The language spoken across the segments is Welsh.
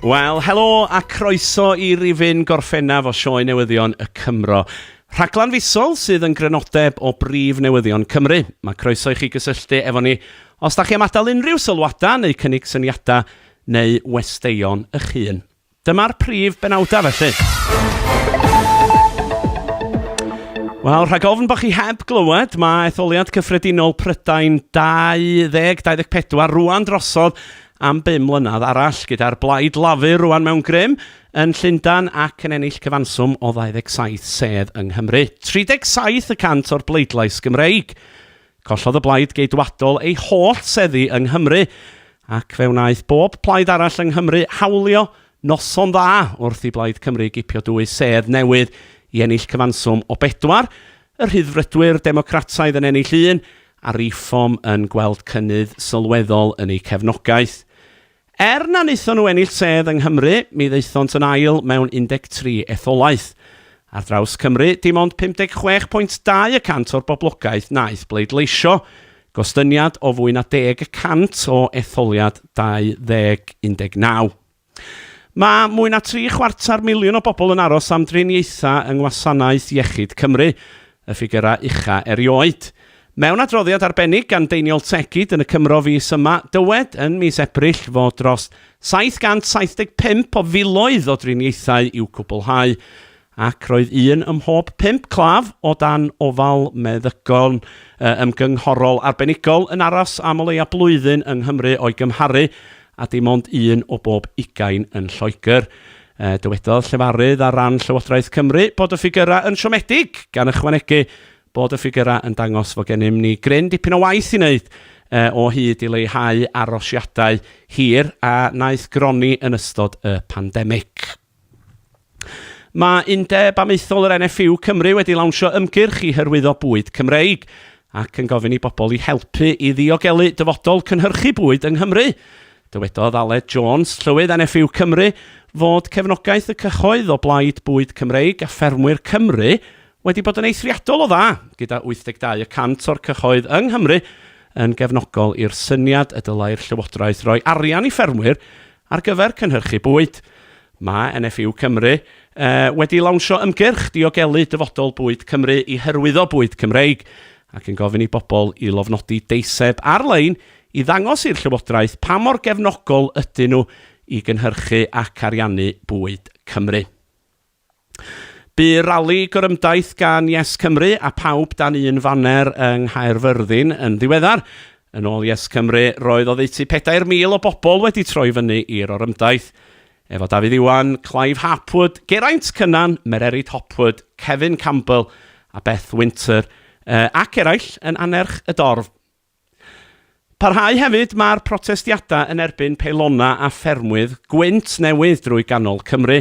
Wel, helo a croeso i rifyn gorffennaf o sioe newyddion y Cymro. Rhaglan fisol sydd yn grynodeb o brif newyddion Cymru. Mae croeso i chi gysylltu efo ni os da chi am adael unrhyw sylwadau neu cynnig syniadau neu westeion eich hun. Dyma'r prif benawdau felly. Wel, rhag ofn bod chi heb glywed, mae etholiad cyffredinol Prydain 2024 rwan drosodd am 5 mlynedd arall gyda'r blaid lafur rwan mewn grym yn Llundan ac yn ennill cyfanswm o 27 sedd yng Nghymru. 37 y cant o'r bleidlais Gymreig. Collodd y Blaid Geidwadol ei holl seddi yng Nghymru, ac fe wnaeth bob plaid arall yng Nghymru hawlio noson dda wrth i Blaid Cymru gipio dwy sedd newydd i ennill cyfanswm o bedwar, y Rhyddfrydwyr Democrataidd yn ennill un, a Reform yn gweld cynnydd sylweddol yn eu cefnogaeth. Er na wnaethon nhw ennill sedd yng Nghymru, mi ddaethont yn ail mewn 13 etholaeth. Ar draws Cymru, dim ond 56 pwynt dau y cant o'r boblogaeth wnaeth bleidleisio, gostyngiad o fwy na deg y cant o etholiad 2019. Mae mwy na tri chwarter miliwn o bobl yn aros am driniaethau yng ngwasanaeth iechyd Cymru, y ffigyrau ucha erioed. Mewn adroddiad arbennig gan Deiniol Tegid yn y Cymro fis yma, dywed yn mis Ebrill fod dros 775 o filoedd o driniaethau i'w cwblhau, ac roedd un ym mhob pump claf o dan ofal meddygon ymgynghorol arbenigol yn aros am o leia blwyddyn yng Nghymru o'i gymharu â dim ond un o bob ugain yn Lloegr. Dywedodd llefarydd ar ran Llywodraeth Cymru bod y ffigyrau yn siomedig, gan ychwanegu bod y ffigyrau yn dangos fod gennym ni gryn dipyn o waith i wneud o hyd i leihau arosiadau hir a wnaeth gronni yn ystod y pandemig. Mae Undeb Amaethol yr NFU Cymru wedi lawnsio ymgyrch i hyrwyddo bwyd Cymreig ac yn gofyn i bobl i helpu i ddiogelu dyfodol cynhyrchu bwyd yng Nghymru. Dywedodd Aled Jones, Llywydd NFU Cymru, fod cefnogaeth y cyhoedd o Blaid Bwyd Cymreig a Ffermwyr Cymru wedi bod yn eithriadol o dda, gyda 82 y cant o'r cyhoedd yng Nghymru yn gefnogol i'r syniad y dylai'r Llywodraeth roi arian i ffermwyr ar gyfer cynhyrchu bwyd. Mae NFU Cymru wedi lawnsio ymgyrch diogelu dyfodol bwyd Cymru i hyrwyddo bwyd Cymreig ac yn gofyn i bobl i lofnodi deiseb ar-lein i ddangos i'r llywodraeth pa mor gefnogol ydyn nhw i gynhyrchu ac ariannu bwyd Cymru. Bu rali gorymdaith gan Yes Cymru a phawb dan un faner yng Nghaerfyrddin yn ddiweddar. Yn ôl Yes Cymru, roedd oddeutu 4,000 o bobl wedi troi fyny i'r orymdaith, efo Dafydd Iwan, Clive Harpwood, Geraint Cynan, Mererid Hopwood, Cefin Campbell a Beth Winter, ac eraill, yn annerch y dorf. Parhau hefyd mae'r protestiadau yn erbyn peilonau a ffermwydd gwynt newydd drwy ganol Cymru.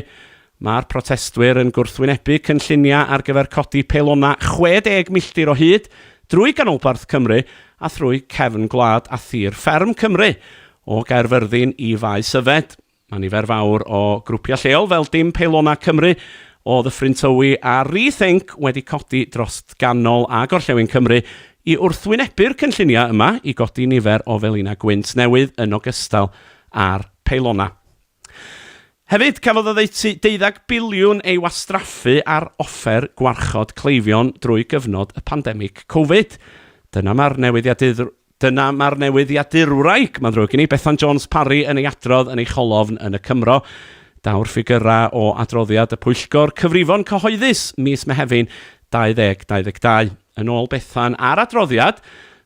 Mae'r protestwyr yn gwrthwynebu cynlluniau ar gyfer codi peilonau 60 milltir o hyd drwy ganolbarth Cymru a thrwy cefn gwlad a thir fferm Cymru, o Gaerfyrddin i Faes Yfed. Mae nifer fawr o grwpiau lleol fel Dim Peilona Cymru, O Ddyffryn Tywi a Rethink wedi codi dros ganol a gorllewin Cymru i wrthwynebu'r cynlluniau yma i godi nifer o felinau gwynt newydd yn ogystal â'r peilonau. Hefyd, cafodd oddeutu deuddeg biliwn ei wastraffu ar offer gwarchod cleifion drwy gyfnod y pandemig Covid. Dyna mae'r newyddiadurwr Dyna mae'r newyddiadurwraig, mae'n ddrwg gen i, Bethan Jones Parry yn ei adrodd yn ei cholofn yn y Cymro. Daw'r ffigyrau o adroddiad y Pwyllgor Cyfrifon Cyhoeddus mis Mehefin 2022. Yn ôl Bethan a'r adroddiad,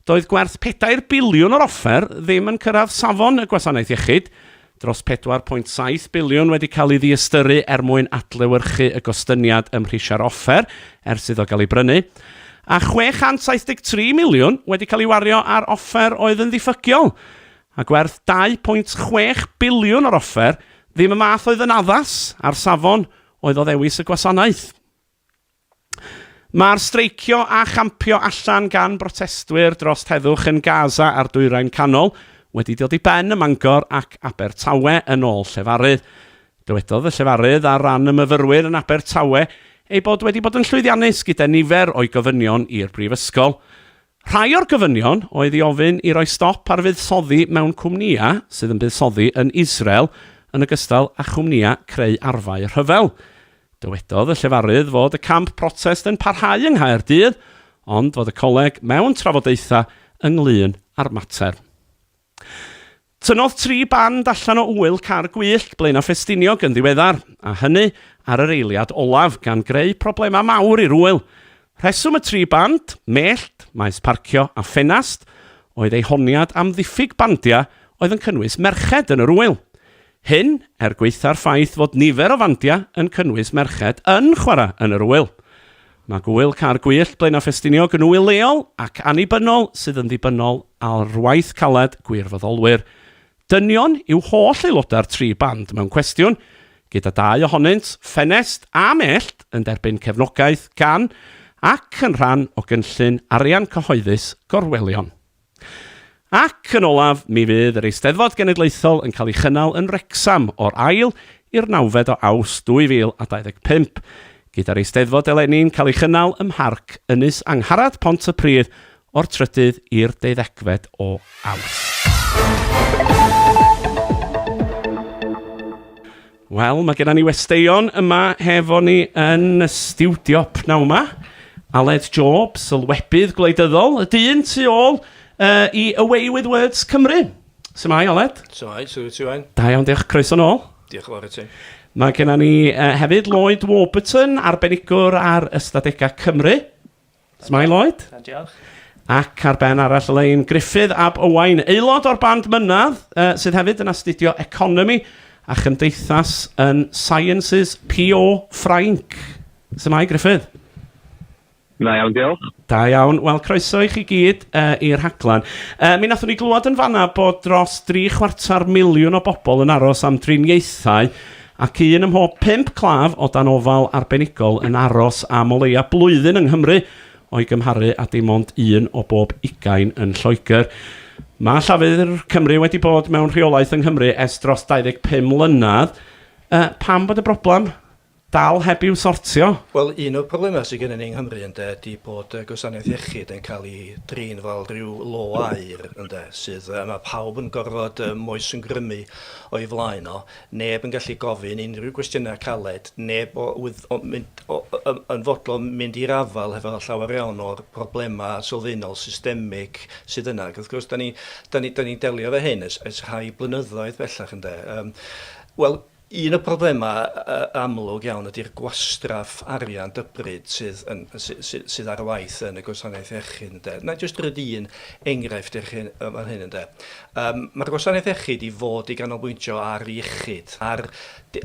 doedd gwerth pedair biliwn o'r offer ddim yn cyrraedd safon y Gwasanaeth Iechyd, Dros 4.7 biliwn wedi cael ei ddiystyru er mwyn adlewyrchu y gostyngiad ym mhrisiau'r offer ers iddo gael ei brynu, a 673 miliwn wedi cael ei wario ar offer oedd yn ddiffygiol, a gwerth 2.6 biliwn o'r offer ddim y math oedd yn addas â'r safon oedd o ddewis y gwasanaeth. Mae'r streicio a champio allan gan brotestwyr dros heddwch yn Gaza a'r Dwyrain Canol wedi dod i ben ym Mangor ac Abertawe, yn ôl llefarydd. Dywedodd y llefarydd ar ran y myfyrwyr yn Abertawe ei bod wedi bod yn llwyddiannus gyda nifer o'i gofynion i'r brifysgol. Rhai o'r gofynion oedd i ofyn i roi stop ar fuddsoddi mewn cwmnïau sydd yn buddsoddi yn Israel yn ogystal â chwmnïau creu arfau rhyfel. Dywedodd y llefarydd fod y camp protest yn parhau yng Nghaerdydd ond fod y coleg mewn trafodaethau ynglŷn â'r mater. Tynnodd tri band allan o ŵyl car gwyllt Blaenau Ffestiniog yn ddiweddar, a hynny ar yr eiliad olaf, gan greu problemau mawr i'r ŵyl. Rheswm y tri band, mellt, maes parcio a ffenast, oedd eu honiad am ddiffyg bandiau oedd yn cynnwys merched yn yr ŵyl. Hyn er gwaetha'r ffaith fod nifer o fandiau yn cynnwys merched yn chwarae yn yr ŵyl. Mae gŵyl Caer Gwyllt, Blaenau Ffestiniog yn ŵyl leol ac annibynnol sydd yn ddibynnol ar waith caled gwirfoddolwyr. Dynion yw holl aelodau'r tri band mewn cwestiwn, gyda dau ohonynt, Ffenest a Mellt, yn derbyn cefnogaeth gan ac yn rhan o gynllun arian cyhoeddus Gorwelion. Ac, yn olaf, mi fydd yr Eisteddfod Genedlaethol yn cael ei chynnal yn Wrecsam o'r ail i'r nawfed o Awst 2025, gyda'r Eisteddfod eleni'n cael ei chynnal ym Mharc Ynys Angharad, Pont-y-pryd, o'r trydydd i'r deuddegfed o Awst. Wel, mae gennym ni westeion yma hefo ni yn y stiwdio pnawn 'ma. Aled Job, sylwebydd gwleidyddol, y dyn tu ôl uh, i Away With Words Cymru. Symai, Aled? Symai, sy'n rwyt ti, Wain? Da iawn, diolch. Croeso nôl. Diolch yn fawr i ti. Mae gennym ni uh, hefyd Lloyd Warburton, arbenigwr ar ystadegau Cymru. Shwmae Lloyd? Da, diolch. Ac ar ben arall y lein, Gruffydd ab Owain, aelod o'r band Mynadd, uh, sydd hefyd yn astudio economi a chymdeithas yn Sciences PO Ffrainc. Shwmae Gruffydd? Da iawn, diolch. Da iawn. Wel, croeso i chi gyd uh, i'r rhaglen. Uh, mi nathon ni glywed yn fanna bod dros dri chwarter miliwn o bobl yn aros am driniaethau Ac un ym mhob pump claf o dan ofal arbenigol yn aros am o leia blwyddyn yng Nghymru, o'i gymharu â dim ond un o bob ugain yn Lloegr. Mae Llafur Cymru wedi bod mewn rheolaeth yng Nghymru ers dros 25 mlynedd. Yy, pam bod y broblem dal heb i'w sortio? Wel, un o'r problemau sydd gennym ni yng Nghymru, ynde, ydy bod y gwasanaeth iechyd yn cael ei drin fel rhyw lo aur, ynde, sydd, yy, ma' pawb yn gorfod, yym, moesgrymu o'i flaen o. Neb yn gallu gofyn unrhyw gwestiynau caled, neb o wydd o mynd o yy yn fodlon mynd i'r afael hefo llawer iawn o'r problemau sylfaenol, systemig sydd yna ac wrth gwrs dan ni dan ni dan ni'n delio efo hyn ers ers rhai blynyddoedd bellach ynde yym wel un o'r problemau yy amlwg iawn ydy'r gwastraff arian dybryd sydd yn sy- sy- sydd ar waith yn y gwasanaeth iechyd ynde. Wna i jyst roid un enghraifft i'r hyn yy fan hyn ynde. Ym mae'r gwasanaeth iechyd i fod i ganolbwyntio ar iechyd, ar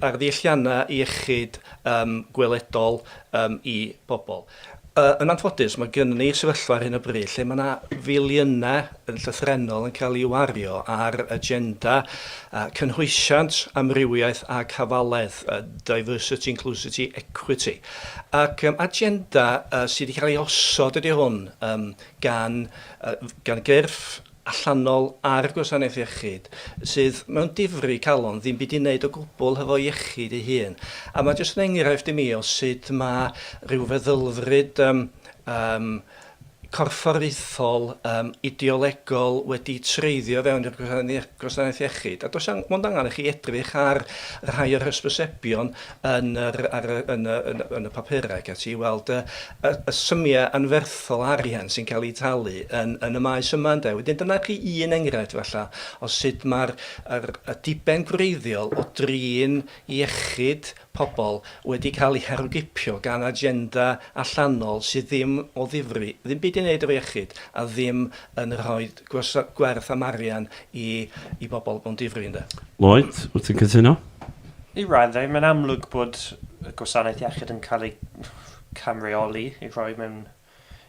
ar ddealliannau iechyd ym gweledol ym i bobl. Yy yn anffodus, mae gynnon ni sefyllfa ar hyn o bryd lle mae yna filiynau yn llythrennol yn cael ei wario ar agenda yy cynhwysiant, amrywiaeth ac hafaledd, yy diversity, inclusity, equity. Ac yym agenda yy sydd wedi cael ei osod ydy hwn yym gan yy gan gyrff, allanol ar gwasanaeth iechyd, sydd mewn difri calon, ddim byd i wneud o gwbl hefo iechyd ei hun. A mae jyst yn enghraifft i mi o sut mae rhyw feddylfryd yym yym corfforaethol, yym ideolegol wedi treiddio fewn i'r gwasanaeth iechyd. A does 'na mond angen i chi edrych ar rhai o'r hysbysebion yn yr ar y yn y yn y yn y papura ac ati i weld y y y symia anferthol arian sy'n cael eu talu yn yn y maes yma ynde. Wedyn dyna chi un enghraifft falla o sut ma'r yr y diben gwreiddiol o drin iechyd pobol wedi cael ei herwgipio gan agenda allanol sydd ddim o ddifri ddim byd i neud efo iechyd a ddim yn rhoid gwerth am arian i i bobl mewn difri ynde? Lloyd, wyt ti'n cytuno? I raddau, mae'n amlwg bod y gwasanaeth iechyd yn cael ei camreoli i roi mewn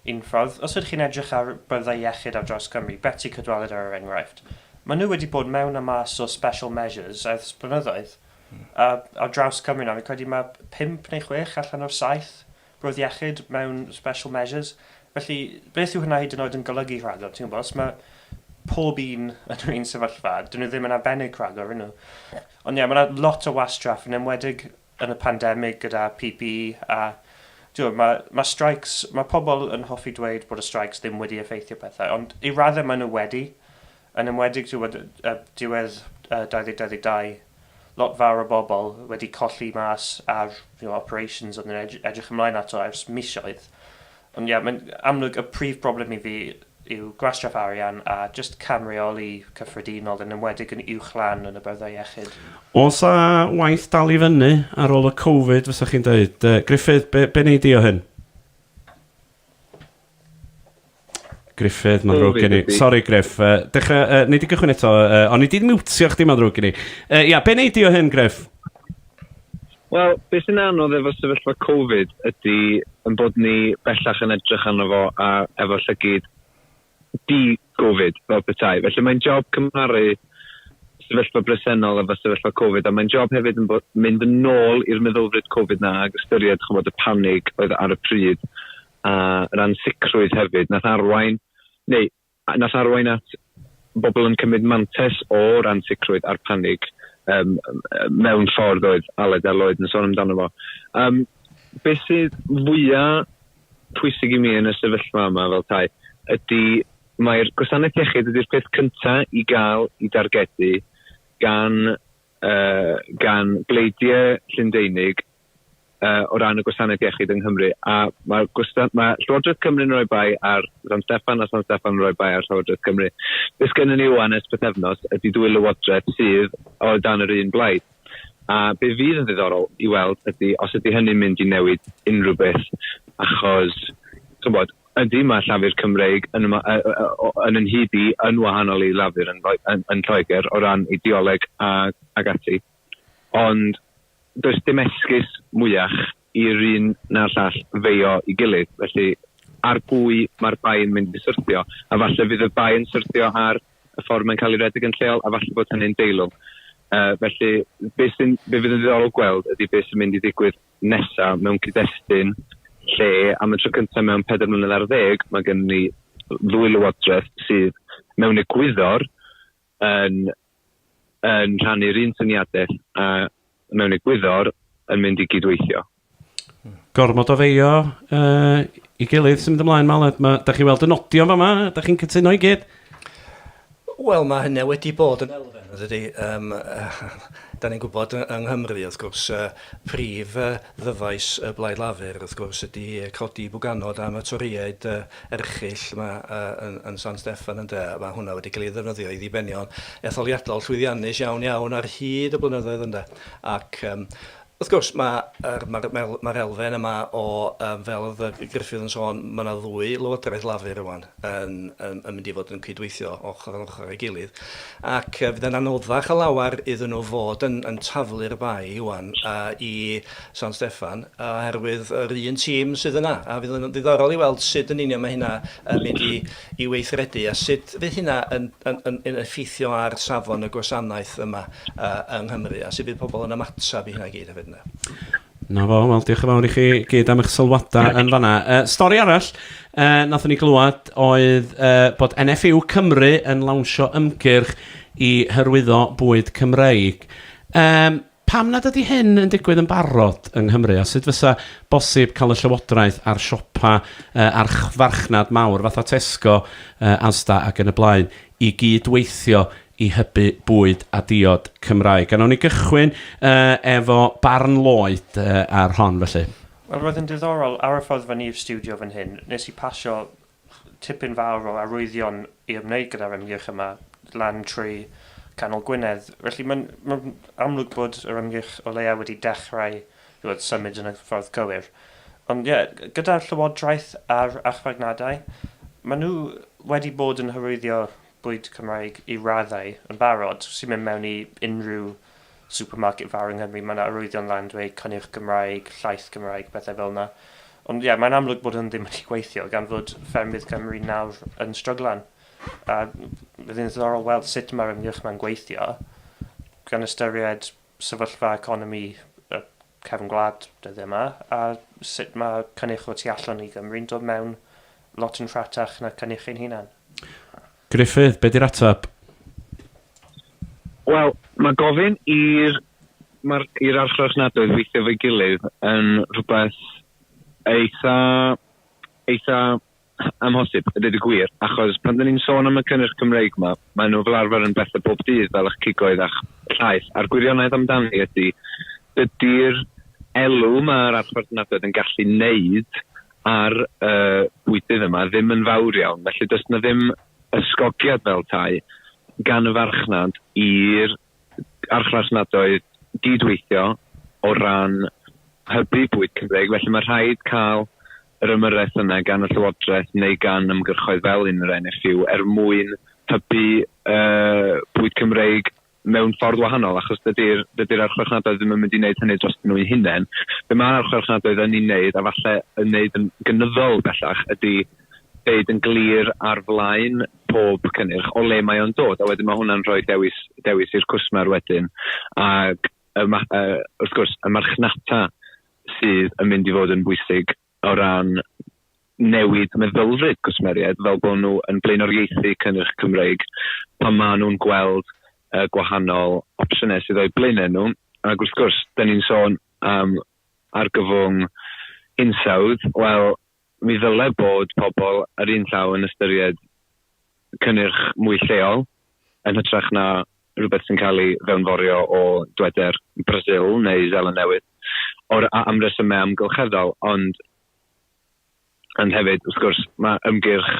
unffordd. Os ydych chi'n edrych ar byrddau iechyd ar draws Cymru, Betsi Cadwaladr er enghraifft, maen nhw wedi bod mewn a mas o special measures ers blynyddoedd. A ar draws Cymru nawr, fi'n credu mae pump neu chwech allan o'r saith Bwrdd Iechyd mewn special measures. Felly, beth yw hynna hyd yn oed yn golygu rhagor? Ti'n gwybod, os mae pob un yn yr un sefyllfa, dyn nhw ddim yn arbennig rhagor, ydyn nhw? Ond ie, mae yna lot o wastraff, yn enwedig yn y pandemig gyda PPE a Diolch, mae, mae streics, mae pobl yn hoffi dweud bod y streics ddim wedi effeithio pethau, ond i raddau maen nhw wedi. Yn enwedig diwedd 2022, lot fawr o bobl wedi colli mas ar operations oedden nhw'n edrych ymlaen ato ers misoedd. Ond ie, mae'n amlwg y prif broblem i fi yw gwastraff arian a jyst cam reoli cyffredinol, yn enwedig yn uwch lan yn y byrddau iechyd. Oes a waith dal i fyny ar ôl y Covid, fysa chi'n dweud? Gruffydd, be wnei di o hyn? Griffith, mae'n ddrwg gen i. Sorry, Griff. Uh, dechrau, uh, nei di gychwyn eto, uh, ond nei di miwtio chdi, mae'n ddrwg gen i. Uh, ia, be nei di o hyn, Griff? Wel, beth sy'n anodd efo sefyllfa Covid ydy yn bod ni bellach yn edrych arno fo a efo llygyd di-Covid fel petai. Felly mae'n job cymharu sefyllfa bresennol efo sefyllfa Covid a mae'n job hefyd yn bod, mynd yn ôl i'r meddylfryd Covid na ac ystyried chymod, y panig oedd ar y pryd a yr ansicrwydd hefyd, nath arwain, neu nath arwain at bobl yn cymryd mantes o'r ansicrwydd a'r panig um, mewn ffordd oedd Aled a Lloyd yn sôn amdano fo. Um, beth sydd fwyaf pwysig i mi yn y sefyllfa yma fel tai ydy mae'r gwasanaeth iechyd ydy'r peth cynta i gael i dargedu gan, uh, gan bleidiau Llyndeinig uh, o ran y gwasanaeth iechyd yng Nghymru. A mae, gwastan, mae Llywodraeth Cymru'n rhoi bai ar San Steffan a San Steffan yn rhoi bai ar Llywodraeth Cymru. Beth gennym ni wan ers pethefnos ydy dwy lywodraeth sydd o dan yr un blaid. A be fydd yn ddiddorol i weld ydy os ydy hynny'n mynd i newid unrhyw beth. Achos, chybod, ydy mae Llafur Cymreig yn, yma, yn yn hyd i yn wahanol i Lafur yn, yn, yn Lloegr o ran ideoleg a, ag ati. Ond does dim esgus mwyach i'r un na'r llall feio i gilydd, felly ar bwy mae'r bai yn mynd i syrthio? A falle fydd y bai yn syrthio ar y ffordd mae'n cael ei redeg yn lleol, a falle bod hynny'n deilwng. Uh, felly, be, sy'n, be fydd yn ddiddorol gweld ydy beth sy'n mynd i ddigwydd nesaf mewn cyd-destun lle am y tro cyntaf mewn pedair mlynedd ar ddeg mae gen ni ddwy lywodraeth sydd mewn egwyddor yn yn rhannu'r un syniadau a mewn egwyddor yn mynd i gydweithio. Gormod o feio uh, i gilydd sy'n mynd ymlaen ma, Aled. Ma, da chi weld y nodion fama, da chi'n cytuno i gyd? Wel, mae hynny wedi bod yn elfen, ydy. Um, da ni'n gwybod yng Nghymru, wrth gwrs, uh, prif uh, ddyfais y Blaid Lafur, wrth gwrs, ydy codi bwganod am y Torïaid uh, erchyll 'ma yn San Steffan ynde, mae hwnna wedi cael ei ddefnyddio i ddibenion etholiadol llwyddiannus iawn iawn ar hyd y blynyddoedd ynde, ac wrth gwrs mae'r mae'r mae'r mae'r elfen yma o yym fel oedd yy Gruffydd yn sôn mae yna ddwy lywodraeth Lafur rwan yn yn yn mynd i fod yn cydweithio ochr yn ochr ei gilydd ac yy fydd e'n anoddach a lawer iddyn nhw fod yn yn taflu'r bai ŵan yy i San Steffan, oherwydd yr un tîm sydd yna, a fydd yn ddiddorol i weld sut yn union mae hynna yn mynd i i weithredu a sut fydd hynna yn yn yn yn effeithio ar safon y gwasanaeth yma yy yng Nghymru a sut fydd pobl yn ymateb i hynna i gyd hefyd ynde. 'Na fo, wel diolch yn fawr i chi gyd am eich sylwadau yn fan'na. Yy stori arall yy nathon ni glywed oedd yy bod NFU Cymru yn lawnsio ymgyrch i hyrwyddo bwyd Cymreig. Yym. Pam nad ydy hyn yn digwydd yn barod yng Nghymru a sut fysa bosib cael y Llywodraeth a'r siopa archfarchnad mawr fatha Tesco, Asda ac yn y blaen i gyd-weithio i hybu bwyd a diod Cymraeg? A wnawn ni gychwyn efo barn Lloyd ar hon felly. Wel, roedd yn ddiddorol, ar y ffordd fyny i'r stiwdio fan hyn, wnes i pasio Tipyn fawr o arwyddion i ymwneud gyda'r ymgyrch yma lan trwy canol Gwynedd. Felly mae'n mae'n amlwg bod yr ymgyrch o leia' wedi dechrau ch'mod symud yn y ffordd cywir. Ond ie, gyda'r Llywodraeth a'r archfarnadau, maen nhw wedi bod yn hyrwyddio bwyd Cymraeg i raddau yn barod. Os ti'n mynd mewn i unrhyw supermarket fawr yng Nghymru, mae 'na arwyddion lan dweud cynnyrch Gymraeg, llaeth Gymraeg, pethau fel 'na. Ond ie, mae'n amlwg bod hwn ddim wedi gweithio, gan fod ffermydd Cymru nawr yn stryglan. A bydd yn ddiddorol weld sut mae'r ymgyrch 'ma'n gweithio, gan ystyried sefyllfa economi y cefn gwlad dyddiau yma, a sut mae cynnyrch o tu allan i Gymru'n dod mewn lot yn rhatach na cynnyrch ein hunan? Gruffydd, be di'r ateb? Wel, mae gofyn i'r ma'r i'r archfarchnadoedd weithio efo'i gilydd yn rhywbeth eitha eitha Amhosib, a dweud y gwir, achos pan 'da ni'n sôn am y cynnyrch Cymreig 'ma, maen nhw fel arfer yn bethe bob dydd fel eich cigoedd a'ch llaeth, a'r gwirionedd amdani ydi, dydi'r elw mae'r archfarchnadoedd yn gallu 'neud ar y bwydydd yma ddim yn fawr iawn, felly does 'na ddim ysgogiad fel 'tai gan y farchnad i'r archfarchnadoedd gyd-weithio o ran hybu bwyd Cymreig, felly mae rhaid cael yr ymyrraeth yna gan y Llywodraeth neu gan ymgyrchoedd fel un yr NFU er mwyn hybu uh, bwyd Cymreig mewn ffordd wahanol, achos dydy'r dydy archfarchnadoedd ddim yn mynd i wneud hynny dros nhw'n hunain. Be mae'r archfarchnadoedd yn ei wneud, a falle yn wneud yn gynyddol bellach, ydy deud yn glir ar flaen pob cynnyrch o le mae o'n dod a wedyn mae hwnna'n rhoi dewis, dewis i'r cwsmer wedyn ac y, uh, wrth gwrs y marchnata sydd yn mynd i fod yn bwysig o ran newid meddylfryd cwsmeriaid fel bod nhw yn blaenoriaethu cynnyrch Cymreig pan maen nhw'n gweld uh, gwahanol opsiynau sydd o'i blaenau nhw. Ac wrth gwrs, da ni'n sôn am argyfwng hinsawdd, wel, Mi ddylai bod pobl ar un llaw yn ystyried cynnyrch mwy lleol yn hytrach na rhywbeth sy'n cael ei fewnforio o dweder Brasil neu Seland Newydd, o'r a am resymau amgylcheddol, ond ond hefyd, wrth gwrs, mae ymgyrch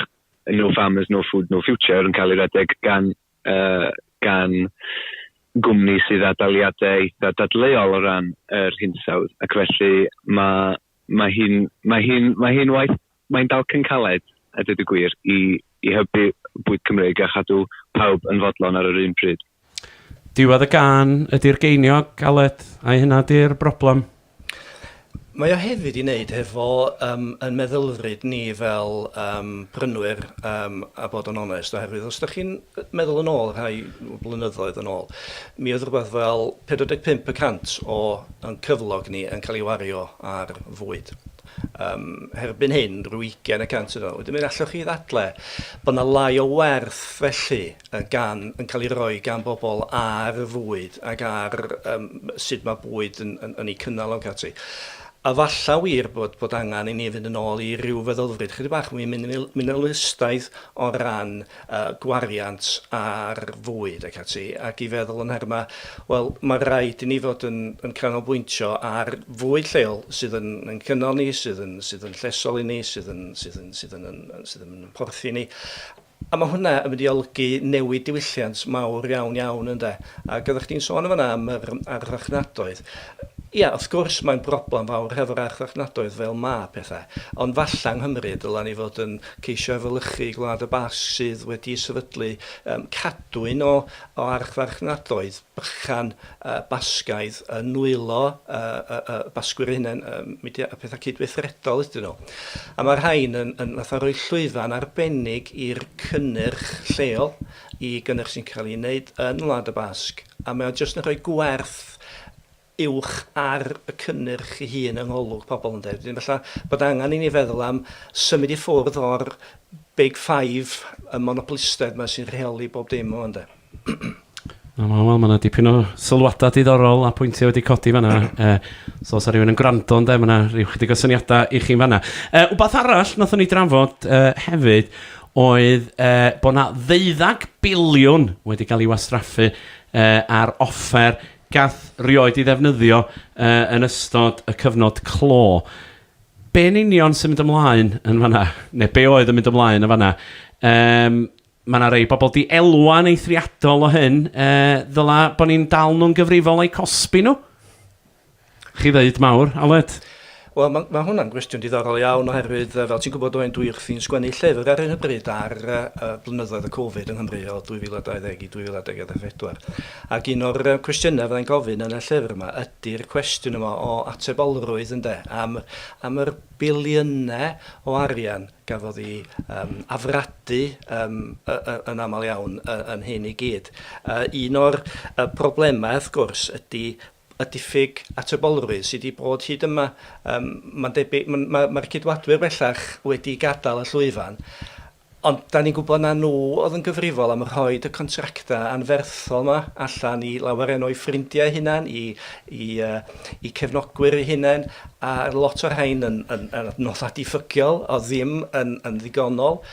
No Farmers, No Food, No Future yn cael ei redeg gan, uh, gan gwmni sydd â daliadau eitha dadleuol o ran yr hinsawdd, ac felly mae Mae hi'n, mae hi'n, mae hi'n waith, mae'n dalcen caled, a dweud y gwir, i, i hybu bwyd Cymreig a chadw pawb yn fodlon ar yr un pryd. Diwedd y gân ydi'r geiniog, Aled, ai hynna 'di'r broblem? Mae o hefyd i wneud hefo um, yn meddylfryd ni fel um, prynwyr, um, a bod yn onest, oherwydd os ydych chi'n meddwl yn ôl rhai blynyddoedd yn ôl, mi oedd rhywbeth fel 45 y cant o yn cyflog ni yn cael ei wario ar fwyd. Yym, erbyn hyn, rhyw 20 y cant yno. Wedyn mi allwch chi ddadle bod yna lai o werth felly yn gan, yn cael ei roi gan bobl ar fwyd ac ar yym sut mae bwyd yn, yn, yn ei cynnal ac ati. A falla wir bod, bod angen i ni fynd yn ôl i ryw feddylfryd chydig bach mwy minimalistaidd o ran y gwariant ar fwyd ac ati, ac i feddwl yn nhermau, wel, mae'n rhaid i ni fod yn, yn canolbwyntio ar fwyd lleol sydd yn, yn cynnal ni, sydd yn, sydd yn llesol i ni, sydd yn, sydd yn, sydd yn, yn, yn, sydd yn, yn porthi ni. A mae hwnna yn mynd i olgu newid diwylliant mawr iawn iawn ynde. Ac oeddech chdi'n sôn yn fanna am yr archfarchnadoedd. Ia, wrth gwrs mae'n broblem fawr hefo'r archfarchnadoedd fel mae pethau, ond falla yng Nghymru dyla ni fod yn ceisio efelychu Gwlad y Basg sydd wedi sefydlu cadwyn o archfarchnadoedd bychan Basgaidd yn nwylo y Basgwyr eu hunain, mudiad a pethau cydweithredol ydyn nhw. A mae rhain yn fatha rhoi llwyfan arbennig i'r cynnyrch lleol, i gynnyrch sy'n cael ei wneud yn Wlad y Basg, a mae o jyst yn rhoi gwerth uwch ar y cynnyrch ei hun yng ngolwg pobl ynde. Wedyn falla bod angen i ni feddwl am symud i ffwrdd o'r big five, y monopolistedd 'ma sy'n rheoli bob dim wan de. Wel wel wel, mae yna dipyn o sylwadau diddorol a pwyntiau wedi codi fanna. Yy so os 'na rhywun yn gwrando ynde, mae yna rhyw chydig o syniadau i chi'n fanna. Yy wbath arall wnaethon ni drafod yy hefyd oedd yy bod 'na ddeuddeg biliwn wedi cael ei wastraffu yy ar offer Gath rioed ei ddefnyddio yn ystod y cyfnod clo. Be yn union sy'n mynd ymlaen yn fan'na? Neu be oedd yn mynd ymlaen yn fan'na? Yym, mae yna rei bobl 'di elwa'n eithriadol o hyn. Yy, ddyla bo' ni'n dal nhw'n gyfrifol o'u cosbi nhw? Chi ddeud mawr, Aled. Wel, mae, mae hwnna'n gwestiwn diddorol iawn oherwydd, fel ti'n gwybod Owain, dwi wrthi'n sgwennu llyfr ar hyn o bryd ar uh, blynyddoedd y Covid yng Nghymru o 2020 i 2024. Ac un o'r cwestiynau fyddai'n gofyn yn y llyfr yma ydy'r cwestiwn yma o atebolrwydd ynde, am, am yr biliynau o arian gafodd i um, afradu um, yn aml iawn yn hyn i gyd. Uh, un o'r uh, problemau, wrth gwrs, ydy y diffyg atebolrwydd sydd wedi bod hyd yma. Yym, mae'n debyg, m- ma', ma'r Ceidwadwyr bellach wedi gadael y llwyfan, ond 'dan ni'n gwybod na nhw oedd yn gyfrifol am rhoid y contractau anferthol 'ma allan i lawer enw o'u ffrindiau eu hunain, i, i, uh, i cefnogwyr eu hunain, a lot o'r rhain yn, yn, yn adnoddau diffygiol, oedd ddim yn, yn ddigonol.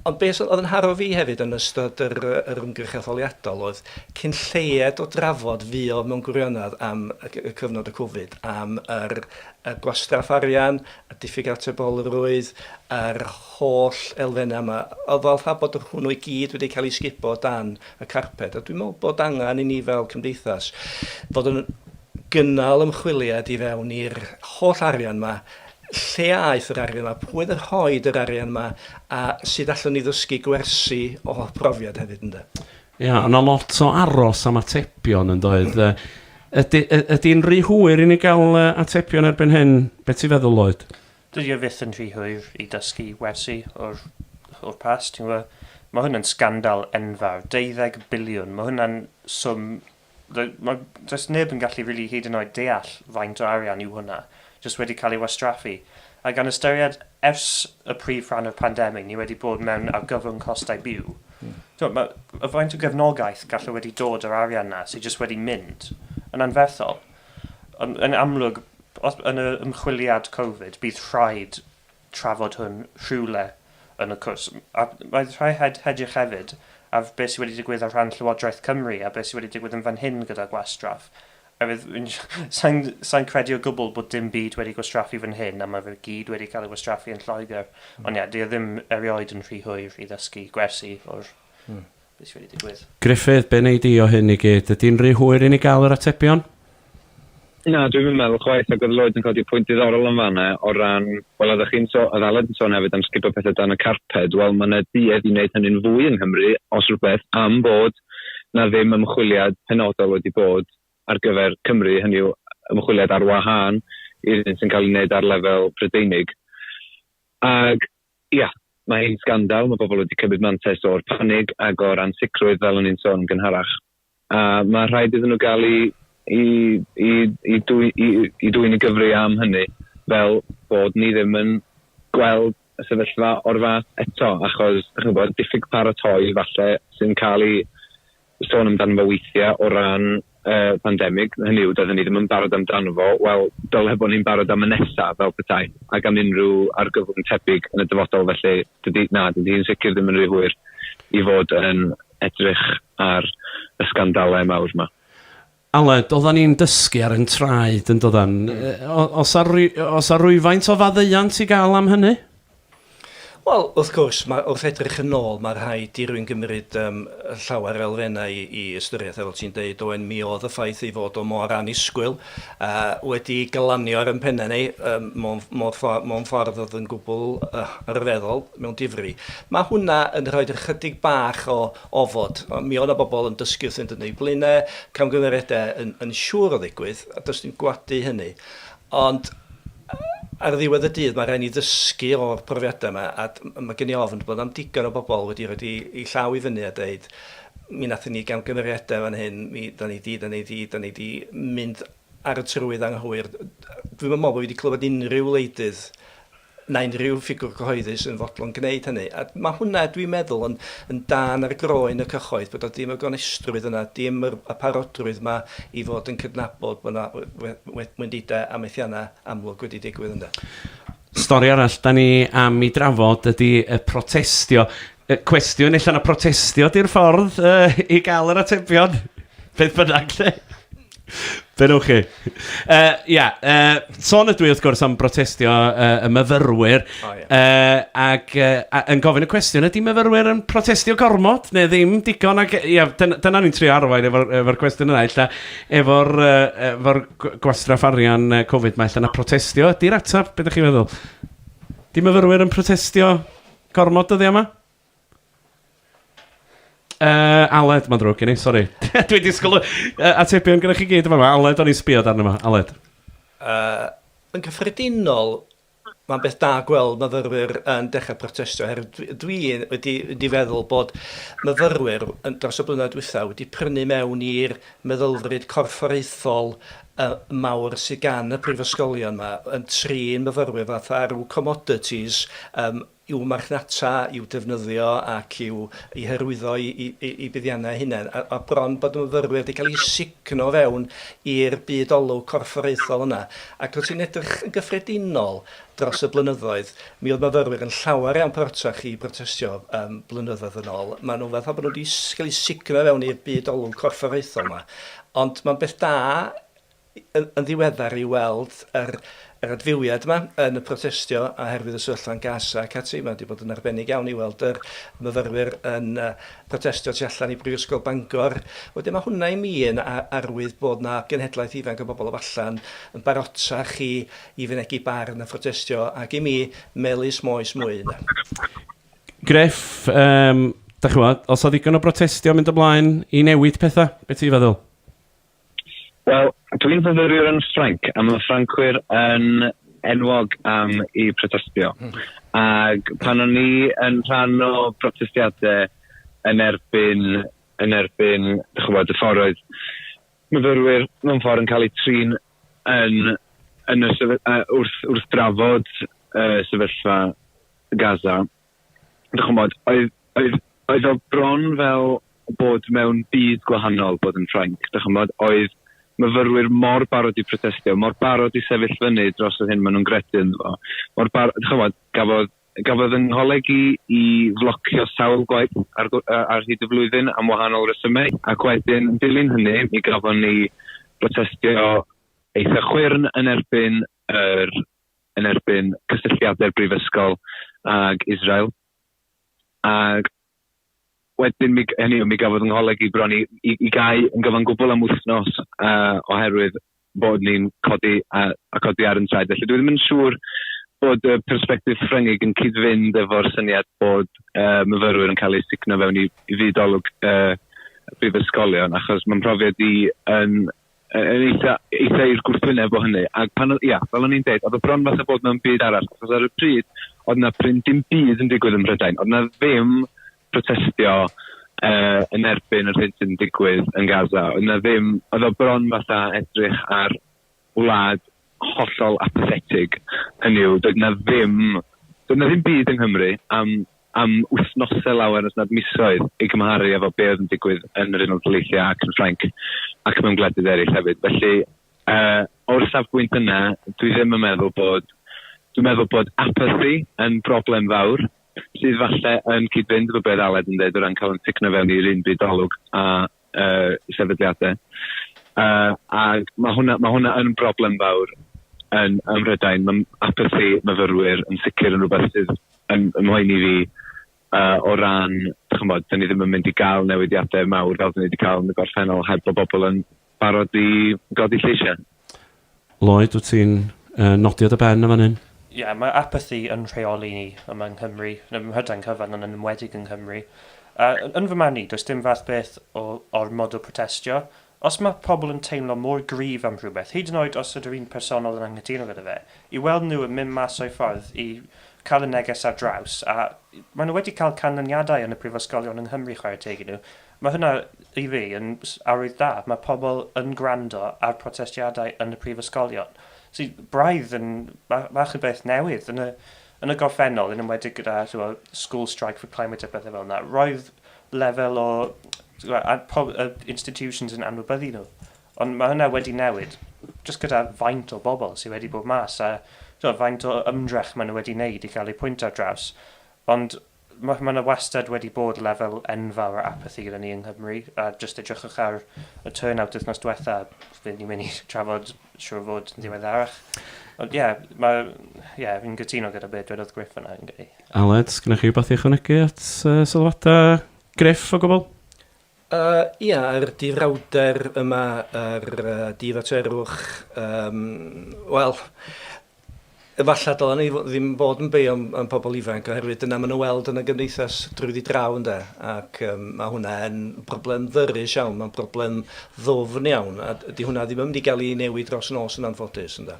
Ond beth oedd yn haro fi hefyd yn ystod yr yr ymgyrch etholiadol oedd cyn lleied o drafod fuodd mewn gwirionedd am y cyfnod y Covid, am yr y gwastraff arian, y diffyg atebolrwydd, yr holl elfennau yma. Oedd fel rha bod hwnnw i gyd wedi cael ei sgubo o dan y carped. A dwi'n meddwl bod angen i ni fel cymdeithas fod yn gynnal ymchwiliad i fewn i'r holl arian yma lle aeth yr arian 'ma, pwy oedd yn rhoid yr arian 'ma, a sut allwn ni ddysgu gwersi o brofiad hefyd ynde? Ia, o' 'na lot o aros am atebion yn doedd? Yy ydi y- ydi'n rhy hwyr i ni ga'l yy atebion erbyn hyn, be' ti'n feddwl Lloyd? Dydi o fyth yn rhy hwyr i dysgu wersi o'r o'r past ti'n gwbo'? Ma' hwn yn sgandal enfawr, deuddeg biliwn, ma' hwnna'n swm Mae does neb yn gallu rili hyd yn oed deall faint o arian yw hwnna, jyst wedi cael ei wastraffu. A gan ystyried ers y prif rhan o'r pandemig ni wedi bod mewn argyfwng costau byw, timod, mae y faint o gefnogaeth gallai wedi dod o'r arian 'na sydd jyst wedi mynd, yn anferthol. Ond yn amlwg, os, yn yr ymchwiliad Covid, bydd rhaid trafod hwn rhywle yn y cwrs. A roedd rhai hed hedrych hefyd ar beth sydd wedi digwydd ar rhan Llywodraeth Cymru a beth sydd wedi digwydd yn fan hyn gyda gwastraff. Oherwydd, sa'n sa credu o gwbl bod dim byd wedi gwastraffu fan hyn a mae fe gyd wedi cael ei wastraffu yn Lloegr. Mm. Ond ia, dio ddim erioed yn rhy hwyr i ddysgu gwersi o'r mm. Be sy wedi digwydd? Gruffydd, be wnei di o hyn i gyd? Ydi'n rhy hwyr i ni gael yr atebion? Na, dwi'm yn meddwl chwaith, ac oedd Lloyd yn codi pwynt diddorol yn fan 'na o ran, wel oeddech chi'n so-, oedd Aled yn sôn hefyd am sgubo pethe dan y carped, wel ma' 'na duedd i wneud hynny'n fwy yng Nghymru, os rhywbeth, am bod 'na ddim ymchwiliad penodol wedi bod ar gyfer Cymru, hynny yw ymchwiliad ar wahân i'r un sy'n cael ei wneud ar lefel Prydeinig. Ac Ia, mae hi'n sgandal, mae pobl wedi cymryd mantais o'r panig ac o'r ansicrwydd fel o'n i'n sôn yn gynharach, a mae rhaid iddyn nhw gael eu i, i, i, dwy, i, i dwyn i gyfri am hynny fel bod ni ddim yn gweld y sefyllfa o'r fath eto achos, chi'n gwybod, diffyg paratoi falle sy'n cael ei sôn amdano fo weithiau o ran y pandemig, hynny yw, doedden ni ddim yn barod amdano fo, wel, dyle bod ni'n barod am y nesaf fel petai, ac am unrhyw argyfwng tebyg yn y dyfodol, felly dydy, na, dydy hi'n sicr ddim yn rhy hwyr i fod yn edrych ar y sgandalau mawr yma. Aled, Oeddan ni'n dysgu ar ein traed, yn doeddan? Oes 'na oes 'na rywfaint o faddeuant i gael am hynny? Wel, wrth gwrs, mae wrth edrych yn ôl, mae rhaid i rywun gymryd um, llawer elfennau i, i ystyriaeth, fel ti'n deud, Owen, mi oedd y ffaith ei fod o mor anusgwyl uh, wedi galanio ar yn pennau ni um, mewn, mewn, ffordd, mewn ffordd oedd yn gwbl uh, rhyfeddol, mewn difri. Mae hwnna yn rhoi ychydig bach o ofod. Mi oedd 'na bobl yn dysgu wrthynt yn eu blaenau, camgymeriadau yn, yn siŵr o ddigwydd, a does dim gwadu hynny. Ond ar ddiwedd y dydd, mae rhaid ni ddysgu o'r profiadau yma, a mae gen i ofn bod am digon o bobl wedi rhoi eu llaw i fyny a dweud, mi nathon ni gamgymeriadau fan hyn, mi, da ni di, da ni di, da ni di mynd ar y trywydd anghywir. Dwi'm yn meddwl bod fi wedi clywed unrhyw wleidydd na unrhyw ffigwr cyhoeddus yn fodlon gwneud hynny. A mae hwnna, dwi'n meddwl, yn, yn dan ar groen y cyhoedd, bod o dim y gonestrwydd yna, dim yr, y parodrwydd yma i fod yn cydnabod bod yna we, we, wendidau a methiannau amlwg wedi digwydd yna. Stori arall da ni am i drafod ydy y protestio. Y cwestiwn ella na protestio di'r ffordd uh, i gael yr atebion, beth bynnag lle. Be nhw chi? Uh, ia, uh, son ydw i wrth gwrs am brotestio uh, y myfyrwyr oh, yeah. uh, ac uh, yn gofyn y cwestiwn ydy myfyrwyr yn protestio gormod neu ddim digon ac ia, dyna, dyna ni'n trio arwain efo'r efo cwestiwn yna illa efo'r uh, efo gwastraff arian uh, Covid mae illa na protestio ydy'r ateb, beth ydych chi'n meddwl? Di myfyrwyr yn protestio gormod dyddiau yma? Uh, Aled, mae'n drwg gen i, sori. Dwi'n disgwyl uh, atebion gyda chi gyd yma. Aled, o'n i'n sbio darn yma. Aled. Uh, yn cyffredinol, mae'n beth da gweld myfyrwyr yn dechrau protestio, oherwydd dwi wedi, wedi feddwl bod myfyrwyr yn dros y blynyddoedd diwethaf wedi prynu mewn i'r meddylfryd corfforaethol uh, mawr sydd gan y prifysgolion yma yn trin myfyrwyr fatha rhyw commodities um, i'w marchnata, i'w defnyddio ac i'w eu hyrwyddo i buddiannau eu hunain, a bron bod y myfyrwyr wedi cael eu sugno fewn i'r byd olwg corfforaethol yna. Ac os ti'n edrych yn gyffredinol dros y blynyddoedd, mi oedd myfyrwyr yn llawer iawn parotach i brotestio blynyddoedd yn ôl. Maen nhw fatha bod nhw wedi cael eu sugno fewn i'r byd olwg corfforaethol yma. Ond mae'n beth da yn ddiweddar i weld yr yr adfywiad yma yn y protestio a herwydd y sefyllfa yn Gaza ac ati, mae wedi bod yn arbennig iawn i weld yr myfyrwyr yn yy protestio tu allan i Brifysgol Bangor. Wedyn mae hwnna i mi yn a- arwydd bod na genhedlaeth ifanc o bobl o falle'n yn barotach i i fynegi barn a phrotestio ac i mi melys moes mwy ynde. Gruff, yym, dach ch'mod, os oedd ddigon o brotestio mynd ymlaen i newid pethau, be' ti'n feddwl? Wel, dwi'n fyfyriwr yn Ffrainc, a mae Ffrancwyr yn enwog am i protestio. Hmm. Ac pan o'n i yn rhan o protestiadau yn erbyn, yn erbyn, dych chi'n y ffordd oedd myfyrwyr mewn ffordd yn cael eu trin yn, yn y sefy, uh, wrth, wrth drafod uh, sefyllfa Gaza, Ch'mod, oedd oedd oedd o bron fel bod mewn byd gwahanol bod yn Ffrainc, dych ch'mod? Oedd myfyrwyr mor barod i protestio, mor barod i sefyll fyny dros yr hyn maen nhw'n gredu ynddo fo, mor bar- dych ch'mod, gafodd gafodd yng ngholeg i i flocio sawl gwaith ar gw- yy ar hyd y flwyddyn am wahanol resymau, ac wedyn yn dilyn hynny mi gafon ni brotestio eitha chwyrn yn erbyn yr yn erbyn cysylltiadau'r brifysgol ag Israel. Ac wedyn, mi, hynny yw, mi gafodd yng ngholeg i bron i, i, i gau yn gyfan gwbl am wythnos uh, oherwydd bod ni'n codi a, a codi ar yn traed. Felly dwi ddim yn siŵr bod y perspektif Ffryngig yn cyd-fynd efo'r syniad bod uh, myfyrwyr yn cael eu signo fewn i, i fyd olwg uh, brifysgolion, achos mae'n profiad i yn yn eitha, eitha i'r gwrthwyneb o hynny. Ac pan oedd, ia, fel o'n i'n deud, oedd o bron fatha bod mewn byd arall, achos ar y pryd, oedd na prin dim byd yn digwydd ym Mhrydain. Oedd na ddim protestio uh, yn erbyn yr hyn sy'n digwydd yn Gaza. Oedd na ddim, oedd o bron fatha edrych ar wlad hollol apathetig. Hynny yw, doedd na ddim, doedd na ddim byd yng Nghymru am am wythnosau lawer os nad misoedd, i gymharu efo be oedd yn digwydd yn yr Unol Daleithiau ac yn Ffrainc, ac mewn gwledydd eraill hefyd. Felly, uh, o'r safbwynt yna, dwi ddim yn meddwl bod, dwi'n meddwl bod apathy yn broblem fawr, sydd falle yn cyd-fynd efo beth Aled yn dweud o ran cael yn ticno fewn i'r un byd olwg a uh, sefydliadau. Uh, a mae hwnna, ma hwnna yn broblem fawr yn ym Mhrydain. Mae apathy myfyrwyr yn sicr yn rhywbeth sydd yn, yn mhoen i fi uh, o ran, chymod, dyn ni ddim yn mynd i gael newidiadau mawr fel dyn ni wedi cael yn y gorffennol heb bod bobl yn barod i godi lleisiau. Lloyd, wyt ti'n nodi o dy ben yn fan hyn? Ie, mae apathy yn rheoli ni yma yng Nghymru, yn ym Mhrydain cyfan ond yn enwedig yng Nghymru. A yn fy marn i, does dim fath beth o ormod o protestio. Os mae pobl yn teimlo mor gryf am rhywbeth, hyd yn oed os ydw i'n personol yn anghytuno gyda fe, i weld nhw yn mynd mas o'u ffordd i cael y neges ar draws, a maen nhw wedi cael canlyniadau yn y prifysgolion yng Nghymru, chwarae teg i nhw, Mae hwnna, i fi, yn arwydd da. Mae pobl yn gwrando ar protestiadau yn y prifysgolion, sydd braidd yn bach o beth newydd. Yn y, yn y gorffennol, yn enwedig gyda chibod, School Strike for Climate a phethau fel yna, roedd lefel o institutions yn anwybyddu nhw. Ond mae hwnna wedi newid, jyst gyda faint o bobl sydd wedi bod mas a faint o ymdrech maen nhw wedi wneud i gael eu pwynt ar draws. Ond Mae yna wastad wedi bod lefel enfawr o apathi gyda ni yng Nghymru, a jyst edrychwch ar y turnout wythnos diwetha', fydd ni'n mynd i drafod, siŵr o fod, yn ddiweddarach. Ond ie, mae, ie, fi'n cytuno gyda be dwedodd Griff fanna, fi'n credu. Aled, sgennoch chi rywbeth i ychwanegu at sylwadau Griff o gwbl? Yy ia, yr dirawder yma, yr yy diddordferwch, yym, wel, efallai dylen ni fo- ddim bod yn beio am am pobl ifanc oherwydd dyna ma' nhw'n weld yn y gymdeithas drwyddi draw ynde, ac yym ma' hwnna yn broblem ddyrus iawn, ma'n broblem ddwfn iawn, a d- 'di hwnna ddim yn mynd i ga'l 'i newid dros nos yn anffodus ynde.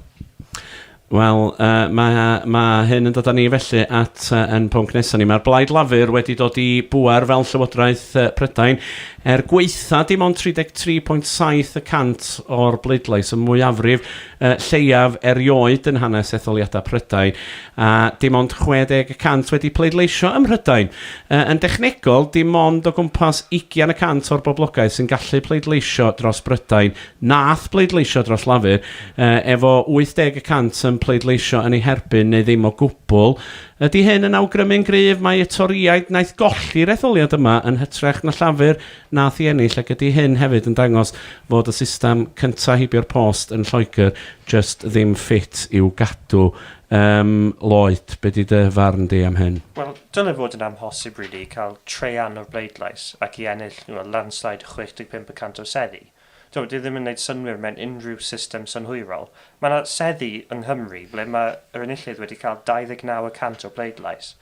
Wel, yy, mae, mae hyn yn dod â ni felly at uh, yn pwnc nesaf ni. Mae'r Blaid Lafur wedi dod i bŵer fel Llywodraeth uh, Prydain er gweitha dim ond 33.7 y cant o'r bleidlais y mwyafrif uh, lleiaf erioed yn hanes etholiadau Prydain a dim ond 60 y cant wedi pleidleisio ym Mhrydain. Uh, yn dechnegol, dim ond o gwmpas 20 y cant o'r boblogaeth sy'n gallu pleidleisio dros Brydain Nath bleidleisio dros Lafur, efo 80 y cant yn pleidleisio yn ei herbyn neu ddim o gwbl. Ydi hyn yn awgrymu'n gryf mai y Torïaid wnaeth golli'r etholiad yma yn hytrach na Llafur nath i ennill ac ydi hyn hefyd yn dangos fod y system cynta heibio'r post yn Lloegr jyst ddim ffit i'w gadw? Yym, Lloyd, be di dy farn di am hyn? Wel, dyle fod yn amhosib rili i cael traean o'r bleidlais ac i ennill nhw â landslide 65 y cant o seddi. Dyw e ddim yn gwneud synnwyr mewn unrhyw system synhwyrol. Mae yna seddi yng Nghymru ble mae yr enillydd wedi cael 29 y cant o bleidlais.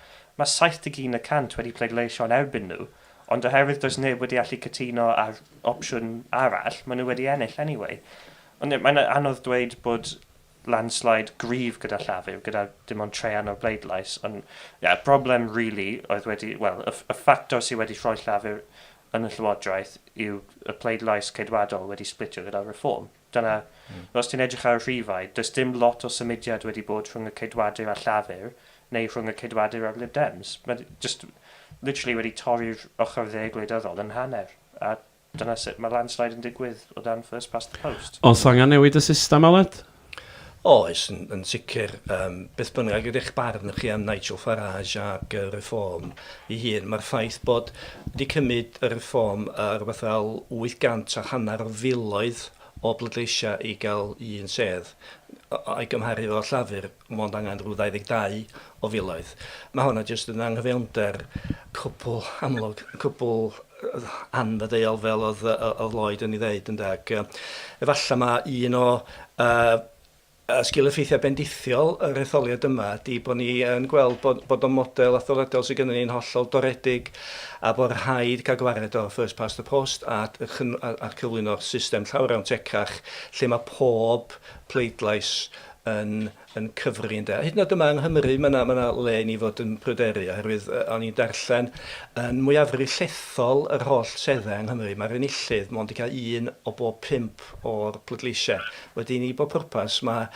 Mae 71 y cant wedi pleidleisio yn erbyn nhw, ond oherwydd does neb wedi allu cytuno ar opsiwn arall, maen nhw wedi ennill anyway. Ond mae'n anodd dweud bod landslide gryf gyda Llafur, gyda dim ond traean o'r bleidlais, ond ie, y broblem rili oedd wedi, wel, y ffactor sydd wedi rhoi Llafur yn y Llywodraeth yw y pleidlais Ceidwadol wedi splitio gyda'r Reform. Dyna, os ti'n edrych ar y rhifau, does dim lot o symudiad wedi bod rhwng y Ceidwadur a Llafur, neu rhwng y Ceidwadur a'r Lib Dems. Mae jyst literally wedi torri'r ochr dde gwleidyddol yn hanner, a dyna sut mae landslide yn digwydd o dan first past the post. Oes angen newid y system, Aled? Oes, yn, yn sicr. Um, beth bynnag ydych barn chi am Nigel Farage ac y Reform i hun, mae'r ffaith bod wedi cymryd y Reform uh, rhywbeth fel 800 a hanner o filoedd o bleidleisiau i gael un sedd, a'i gymharu efo Llafur, mond angen rhyw 22 o filoedd. Mae honna jyst yn anghyfiawnder cwbl amlwg, cwbl anfaddeuol fel oedd, oedd Lloyd yn ei ddeud, ynda, ac efallai mae un o uh, a sgil effeithiau bendithiol yr etholiad yma di bod ni yn gweld bod, bod o'n model athroledol sydd gennym ni'n hollol doredig a bod rhaid cael gwared o'r first past the post a, a, a cyflwyno'r system llawr awn tecach lle mae pob pleidlais yn yn cyfri ynde. Hyd yn oed yma yng Nghymru mae yna, mae yna le i ni fod yn pryderu oherwydd yy, o'n i'n darllen yn mwyafrif llethol yr holl treddau yng Nghymru mae'r enillydd mond yn cael un o bob pump o'r pleidleisiau. Wedyn ni bob pwrpas mae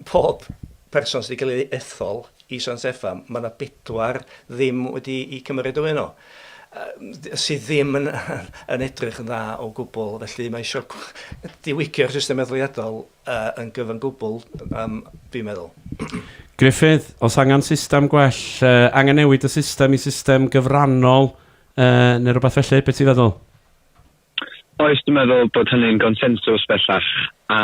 pob person sydd wedi cael ei ethol i San Steffan mae yna bedwar ddim wedi i cymryd o yno sydd ddim yn, yn edrych yn dda o gwbl felly mae eisiau diwygio'r system etholiadol Yy yn gyfan gwbl yym dwi'n meddwl. Gruffydd, Oes angen system gwell, yy angen newid y system i system gyfrannol yy neu rywbeth felly, be ti'n feddwl? Oes, dwi'n meddwl bod hynny'n gonsensws bellach, a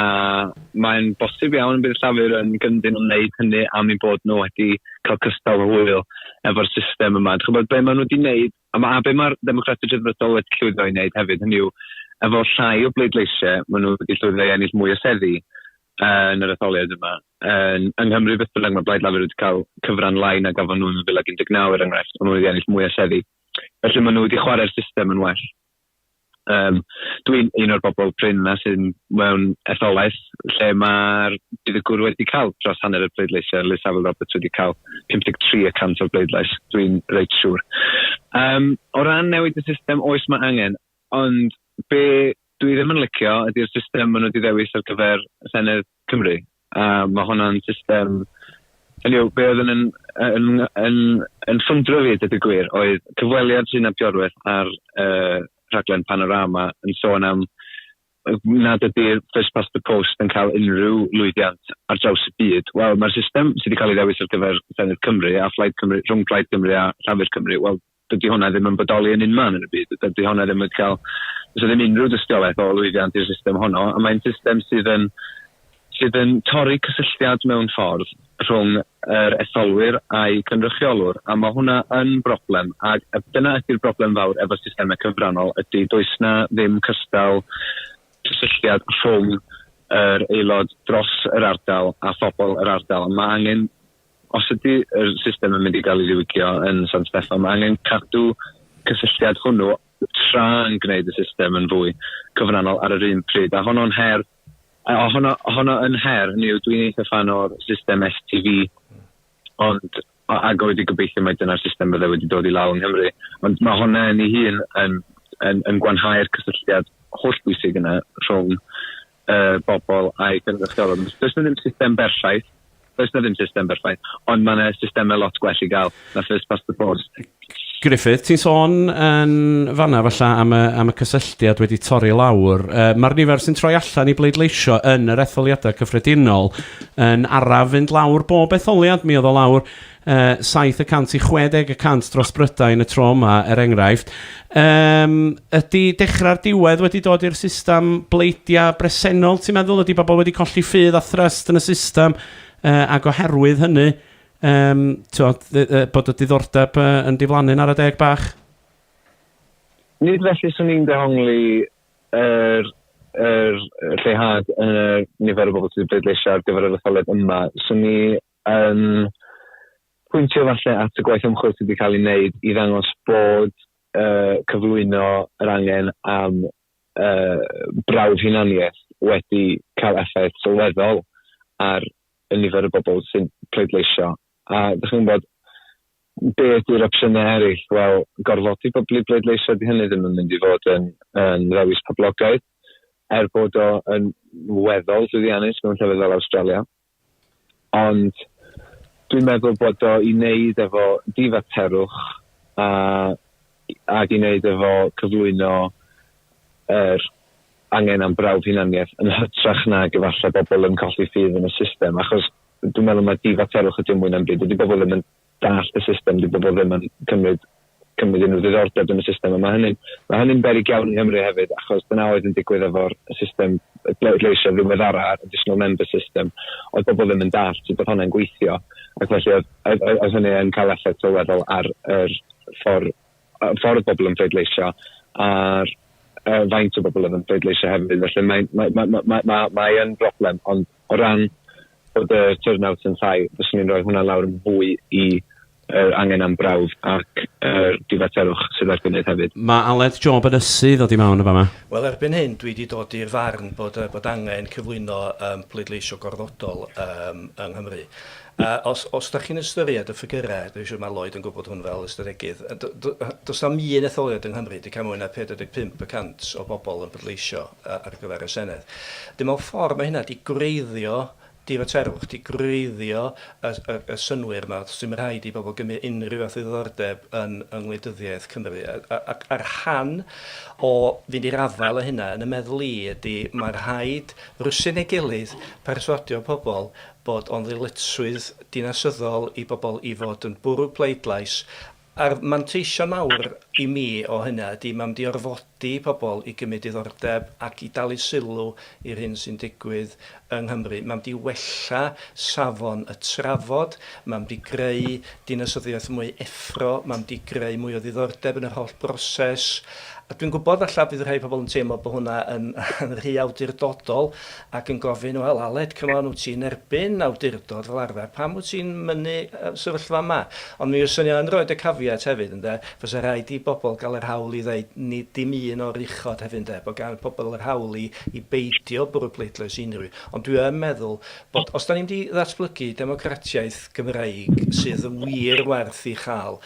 mae'n bosib iawn y bydd Llafur yn gyndyn o wneud hynny am eu bod nhw wedi cael cystal hwyl efo'r system yma. Dych chi'n gwybod, be maen nhw wedi wneud A ma- a be' ma'r Democrats y Rhyddfrydol wedi llwyddo i wneud hefyd, hynny yw, efo llai o bleidleisiau, maen nhw wedi llwyddo i ennill mwy o seddi yn yr etholiad yma. Yn, yng Nghymru beth bynnag, mae Blaid Lafur wedi cael cyfran lai na gafon nhw yn 2019 er enghraifft, ond maen nhw wedi ennill mwy o seddi. Felly maen nhw wedi chwarae'r system yn well. Yym, dwi'n un o'r bobl prin 'na sydd mewn etholaeth lle mae'r buddugwr wedi cael dros hanner y pleidleisiau, Liz Saville Roberts wedi cael 53 y cant o'r bleidlais, dwi'n reit siŵr. Um, o ran newid y system, oes mae angen, ond be dwi ddim yn licio ydy'r system maen nhw wedi ddewis ar gyfer y Senedd Cymru. A mae hwnna'n system... Hynny yw, be oedd yn, yn, yn, yn, yn ffwndro fi, dydw i gwir, oedd cyfweliad sy'n abdiorwedd ar uh, rhaglen Panorama yn sôn am nad ydy'r First Past the Post yn cael unrhyw lwyddiant ar draws y byd. Wel, mae'r system sydd wedi cael ei ddewis ar gyfer Senedd Cymru a Phlaid Cymru, rhwng Plaid Cymru a Llafur Cymru, wel, dydy hwnna ddim yn bodoli yn unman yn y byd. Dydy hwnna ddim yn cael... Does ddim unrhyw dystiolaeth o lwyddiant i'r system honno, a mae'n system sydd yn, sydd yn torri cysylltiad mewn ffordd rhwng yr etholwyr a'i cynrychiolwr, a mae hwnna yn broblem, ac dyna ydy'r broblem fawr efo systemau cyfrannol, ydy does na ddim cystal cysylltiad rhwng yr aelod dros yr ardal a phobl yr ardal. Mae angen Os ydy yr system yn mynd i gael ei ddiwygio yn San Steffan, mae angen cadw cysylltiad hwnnw tra yn gwneud y system yn fwy cyfranol ar yr un pryd, a honno'n her a honno, honno yn her, ni yw dwi'n eitha fan o'r system STV, ond ag oedd i gobeithio mae dyna'r system bydde wedi dod i law yng Nghymru, ond mae hwnna yn ei hun yn, yn, yn gwanhau'r cysylltiad holl bwysig yna rhwng uh, bobl a'i cynrychiolwr. Does na ddim system berffaith, does na ddim system berffaith, ond mae yna systemau lot gwell i gael na first past the post. Griffith, ti'n sôn yn fanna falla am y, am y cysylltiad wedi torri lawr. Uh, Mae'r nifer sy'n troi allan i bleidleisio yn yr etholiadau cyffredinol yn araf fynd lawr bob etholiad. Mi oedd o lawr Yy, 760 y cant dros Brydain y tro yma, er enghraifft. Yym, ydy dechrau'r diwedd wedi dod i'r system bleidiau bresennol, ti'n meddwl? Ydy bobl wedi colli ffydd a thrust yn y system, yy, ac oherwydd hynny, yym, t'od, yy, yy, bod y diddordeb yy, yn diflannu'n ara deg bach? Nid felly, 'swn i'n dehongli yr yr lleihad yn y nifer o bobl sydd wedi pleidleisio ar gyfer yr etholiad yma. 'Swn i yn pwyntio falle at y gwaith ymchwil sydd wedi cael ei wneud i ddangos bod uh, cyflwyno yr angen am uh, brawf hunaniaeth wedi cael effaith sylweddol ar y nifer y bobl sy'n pleidleisio. A ydych chi'n bod be ydy'r opsiynau eraill? Wel, gorfodi pobl i bleidleisio di hynny ddim yn mynd i fod yn, yn ddewis poblogaidd, er bod o yn weddol llwyddiannus mewn llefydd fel Australia. Ond dwi'n meddwl bod o i wneud efo difaterwch a ag i wneud efo cyflwyno yr angen am brawf hunaniaeth yn hytrach nag efallai bobl yn colli ffydd yn y system achos dwi'n meddwl mae difaterwch ydy o mwy na'm byd. Dydy bobl ddim yn dallt y system, dyw bobl ddim yn cymryd cymryd unrhyw ddiddordeb yn y system, a mae hynny'n ma hynny beryg iawn yng Nghymru hefyd, achos dyna oedd yn digwydd efo'r system bleidleisio ddiweddara, additional member system, oedd bobl ddim yn dallt sut oedd hwnna'n gweithio, ac felly oedd, oedd, oedd hynny yn cael effaith sylweddol ar yr ffordd, ffordd bobl yn pleidleisio, a'r uh, faint o bobl oedd yn pleidleisio hefyd, felly mae'n mae, mae, mae, mae, mae, mae broblem, ond O ran bod y turnout yn llai, fyswn i'n rhoi hwnna lawr yn fwy i yr angen am brawf ac yr difaterwch sydd ar gynnydd hefyd. Mae Aled Job yn ysu ddod i mewn yn fan 'ma. Wel, erbyn hyn dwi 'di dod i'r farn bod yy bod angen cyflwyno yym pleidleisio gorfodol yym yng Nghymru. A os os 'dach chi'n ystyried y ffigyre, dwi'n siŵr ma' Lloyd yn gwbod hwn fel ystadegydd, yy do- do- yy do's na'm un etholiad yng Nghymru 'di ca'l mwy na 45 y cant o bobol yn pleidleisio. ar gyfer y Senedd. Dyn mewn ffordd mae hynna 'di gwreiddio difaterwch, 'di gwreiddio y y y synnwyr 'ma, does dim rhaid i bobl gymryd unrhyw fath o ddiddordeb yn yng ngwleidyddiaeth Cymru. A a ac a rhan o fynd i'r afael â hynna yn y meddwl i ydi ma' rhaid rwsio yn ei gilydd perswadio pobl bod o'n ddyletswydd dinasyddol i bobl i fod yn bwrw pleidlais A'r manteision mawr i mi o hynna ydi mae'n mynd i orfodi pobl i gymryd diddordeb ac i dalu sylw i'r hyn sy'n digwydd yng Nghymru. Mae'n mynd i wella safon y trafod, mae'n mynd i greu dinasyddiaeth mwy effro, mae'n mynd i greu mwy o ddiddordeb yn yr holl broses. A dwi'n gwybod falla bydd rhai pobl yn teimlo bod hwnna yn rhy awdurdodol, ac yn gofyn, 'Wel, Aled, come on, wyt ti yn erbyn awdurdod fel arfer, pam wyt ti'n mynnu y sefyllfa yma? Ond mi fyswn i yn rhoid y caveat hefyd, ynde, fysa rhaid i bobl gael yr hawl i ddeud, nid dim un o'r uchod hefyd, ynde, bod gan pobl yr hawl i i beidio bwrw pleidlais i unrhyw un. Ond dwi yn meddwl bod, os 'dan ni'n mynd i ddatblygu democratiaeth Gymreig sydd yn wir werth ei chael,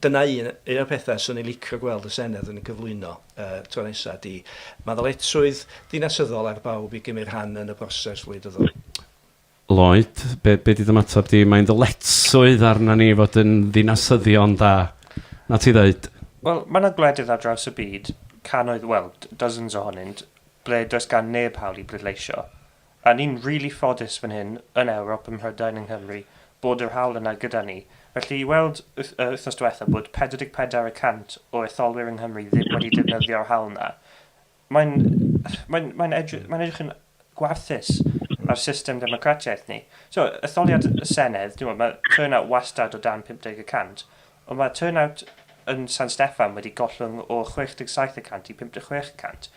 dyna un o'r pethau 'swn i'n licio gweld y Senedd yn gyflwyno. Y tro nesaf ydy mae ddyletswydd dinasyddol ar bawb i gymryd rhan yn y broses wleidyddol. Lloyd, be, be di dy ymateb di? Mae'n ddyletswydd arna ni fod yn ddinasyddion da. Na ti ddeud? Wel, mae yna gwledydd ar draws y byd, cannoedd, wel, dozens ohonynt, ble does gan neb hawl i bleidleisio. A ni'n rili ffodus fan hyn yn Ewrop, ym Mhrydain, yng Nghymru, bod yr haul yna gyda ni. Felly, i weld yr wythnos diwetha' bod 44 y cant o etholwyr yng Nghymru ddim wedi defnyddio'r haul 'na, mae'n, mae'n, mae'n edrych, mae'n edrych yn warthus ar system democratiaeth ni. T'mo', etholiad y Senedd, t'mo', ma' turnout wastad o dan 50 y cant, ond ma' turnout yn San Steffan wedi gollwng o 67 y cant i 56 y cant.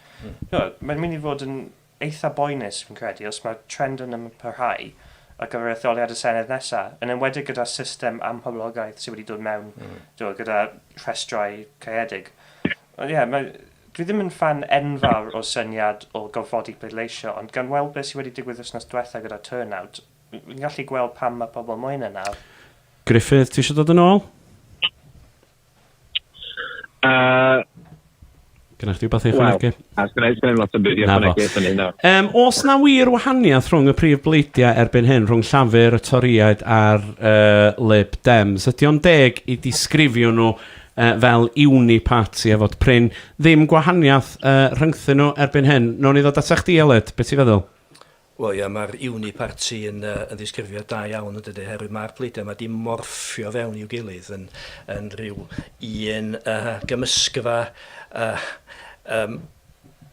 T'mo', mae'n mynd i fod yn eitha boenus fi'n credu os mae'r trend yn parhau ar gyfer etholiad y Senedd nesa', yn enwedig gyda'r system amhoblogaeth sydd wedi dod mewn, t'mod, gyda rhestrau caeedig. Ond ie, mae... dwi ddim yn ffan enfawr o'r syniad o gorfodi pleidleisio, ond gan weld beth sydd wedi digwydd wythnos diwetha' gyda turnout, fi'n gallu gweld pam mae pobl moyn e nawr. Gruffydd, ti isio dod yn ôl? Uh, Gynnau chdi beth i chwanegu? Wel, gynnau chdi lot o byd i chwanegu fan hyn. Um, os na wir wahaniaeth rhwng y prif bleidiau erbyn hyn, rhwng Llafur, y Toriaid a'r uh, Lib Dems, ydy o'n deg i disgrifio nhw uh, fel uni party a fod prin ddim gwahaniaeth uh, rhyngthyn nhw erbyn hyn. Nw'n i ddod at eich di, Eled, beth ti'n feddwl? Wel ia, mae'r uniparty yn yy yn ddisgrifio da iawn yndydi, oherwydd mae'r pleidiau yma 'di morffio fewn i'w gilydd yn yn rhyw un yy gymysgfa yy yym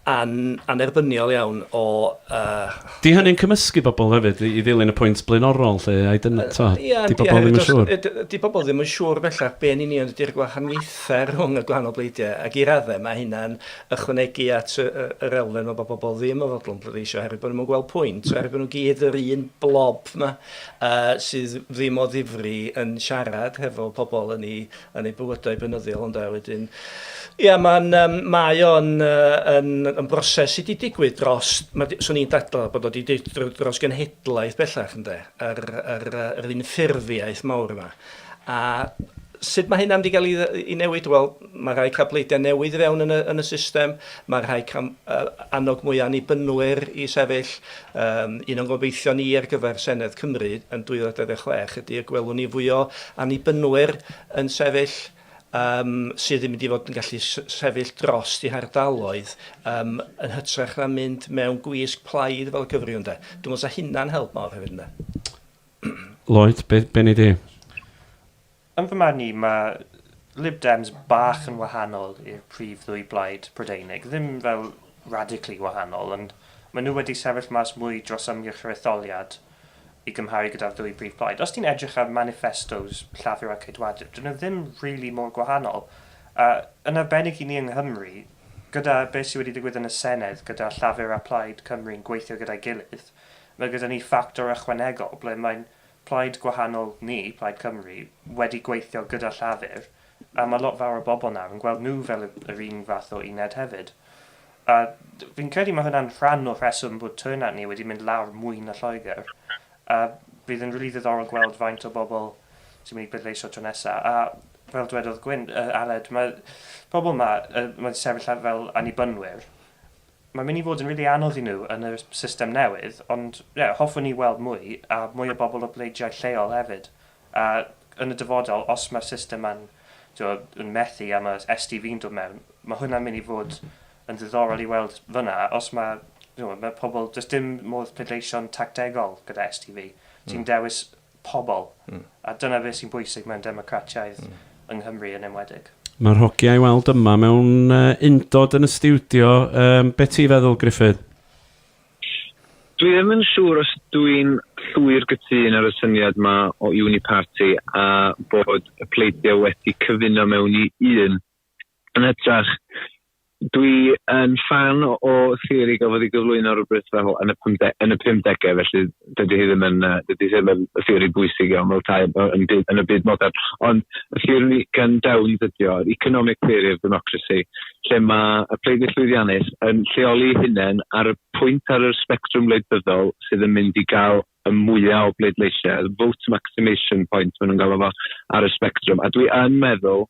an- annerbyniol iawn o yy... 'Di hynny'n cymysgu pobl hefyd i i ddilyn y pwynt blaenorol 'lly, I don't know, tibod? Yy ia, 'di pobl ddim yn siŵr? Yy yy 'di pobl ddim yn siŵr bellach be' yn union ydi'r gwahaniaethau rhwng y gwahanol bleidiau, ac i raddau mae hynna'n ychwanegu at yr elfen 'ma bod pobl ddim yn fodlon pleidleisio oherwydd bod nhw'n yn gweld pwynt, oherwydd bod nhw'n gyd yr un blob 'ma sydd ddim o ddifri yn siarad hefo pobl yn eu, yn eu bywydau bynyddiol ynde. Wedyn, ia, mae'n, mae o'n yn, yn broses sydd wedi digwydd dros, swn i'n dadl bod o wedi digwydd dros genhedlaeth bellach ynde, yr, yr, yr unffurfiaeth mawr yma. A sut mae hynna wedi cael ei dde- ei newid? Wel, mae rhai cael pleidiau newydd i fewn yn y, yn y system, mae rhai cael uh, annog mwy o annibynwyr i sefyll. Um, un o'n gobeithio ni ar gyfer Senedd Cymru yn 2026 ydy y gwelwn ni fwy o annibynwyr yn sefyll um, sydd yn mynd i fod yn gallu sefyll dros i hardaloedd um, yn hytrach na mynd mewn gwisg plaid fel y cyfriwn de. Dwi'n meddwl sa hynna'n help mawr hefyd yna. Lloyd, be, be nei di? Yn fy marn i, mae Lib Dems bach yn wahanol i'r prif ddwy blaid Prydeinig. Ddim fel radically wahanol, ond maen nhw wedi sefyll mas mwy dros ymgyrch yr etholiad i gymharu gyda'r ddwy brif blaid. Os ti'n edrych ar manifestos Llafur a Ceidwadwyr, dyn nhw ddim really mor gwahanol. A yn arbennig i ni yng Nghymru, gyda beth sydd wedi digwydd yn y Senedd, gyda Llafur a Plaid Cymru'n gweithio gyda'i gilydd, Mae gyda ni ffactor ychwanegol ble mae plaid gwahanol ni, Plaid Cymru, wedi gweithio gyda Llafur, a mae lot fawr o bobl nawr yn gweld nhw fel yr un fath o uned hefyd. A fi'n credu mae hwnna'n rhan o'r rheswm bod turnout ni wedi mynd lawr mwy na Lloegr. A bydd yn rili ddiddorol gweld faint o bobl sy'n mynd i bleidleisio tro nesa. A fel dwedodd Gwyn, yy Aled, mae pobl 'ma, yy, mae'n sefyll fel annibynwyr. Mae'n mynd i fod yn rili anodd i nhw yn y system newydd, ond ie, hoffwn i weld mwy, a mwy o bobl o bleidiau lleol hefyd. A yn y dyfodol, os mae'r system ma'n, tibod, yn methu a mae SDV'n dod mewn, mae hwnna'n mynd i fod yn ddiddorol i weld fan'na, os mae, tibod, mae pobl, does dim modd pleidleisio'n tactegol gyda SDV. Ti'n dewis pobl, a dyna beth sy'n bwysig mewn democratiaeth, yng Nghymru yn enwedig. Mae'r hogia i weld yma mewn undod yn y stiwdio. Yym, be ti'n feddwl, Gruffydd? Dwi ddim yn siŵr os dwi'n llwyr gytun ar y syniad yma o uniparty a bod y pleidiau wedi cyfuno mewn i un Yn hytrach, dwi yn ffan o theori gafodd ei gyflwyno rhywbryd fel yn y, pymde, yn y 50au, felly dydy hi ddim yn, dydy hi ddim yn theori bwysig iawn fel tai yn, byd, yn y byd modern. Ond y theori gan Downs ydy o, economic theory of democracy, lle mae y pleidwyr llwyddiannus yn lleoli hunain ar y pwynt ar yr spectrwm wleidyddol sydd yn mynd i gael y mwyaf o bleidleisiau, vote maximation point maen nhw'n galw fo ar y spectrwm. A dwi yn meddwl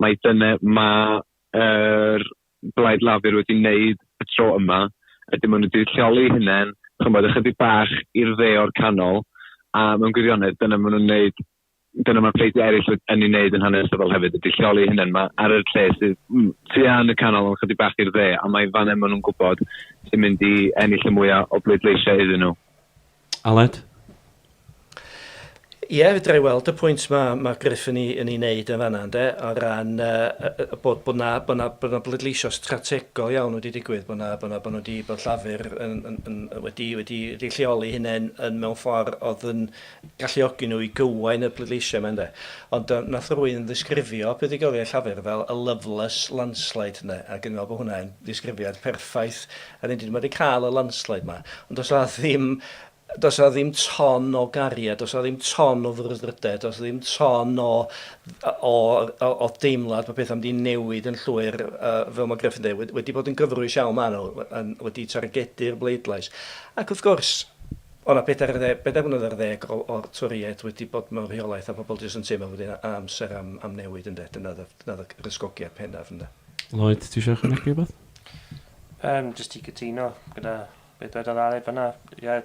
mai dyna mae'r er, Blaid Lafur wedi wneud y tro yma, ydy maen nhw wedi lleoli hunain, chymod, ychydig bach i'r dde o'r canol, a mewn gwirionedd, dyna maen nhw'n wneud dyna mae pleidie eraill yn ei wneud yn hanesyddol hefyd, ydy lleoli hynny, mae ar yr lle sydd mm, tu yn y canol ond chydig bach i'r dde, a mae fan hyn maen nhw'n gwybod sy'n mynd i ennill y mwyaf o bleidleisiau iddyn nhw. Aled? Ie, fedra i weld y pwynt mae ma Gruff yn ei, yn ei wneud yn fanna, ynde, o ran uh, bod, bod, na, bod, na, bod na bleidleisio strategol iawn wedi digwydd, bod, na, bod, na, bod nhw wedi bod llafur yn, yn, yn, wedi, wedi, wedi lleoli hunain yn mewn ffordd oedd yn galluogi nhw i gywain y bleidleisio yma, ynde. Ond uh, nath rwy'n ddisgrifio buddugoliaeth llafur fel y loveless landslide, ynde, ac yn meddwl bod hwnna'n ddisgrifiad perffaith A rydyn ni wedi cael y landslide 'ma, ond does 'na ddim, does 'na ddim ton o gariad, does 'na ddim ton o frwdfrydedd, does 'na ddim ton o, o, o, o deimlad bod pethau'n mynd i newid yn llwyr, uh, fel mae Griffin dweud, wedi, wedi bod yn gyfrwys iawn maen nhw, yn, wedi targedu'r bleidlais. Ac wrth gwrs, o na bedair, dde, bedair mlynedd ar ddeg o, o'r Toriaid wedi bod mewn rheolaeth a pobl jyst yn teimlo bod yna amser am, am newid yn de. Dyna oedd y rysgogiad penaf yn de. Lloyd, ti eisiau chynnig rhywbeth? Yym, jyst i gytuno gyda be dwedodd Aled fanna. Ie,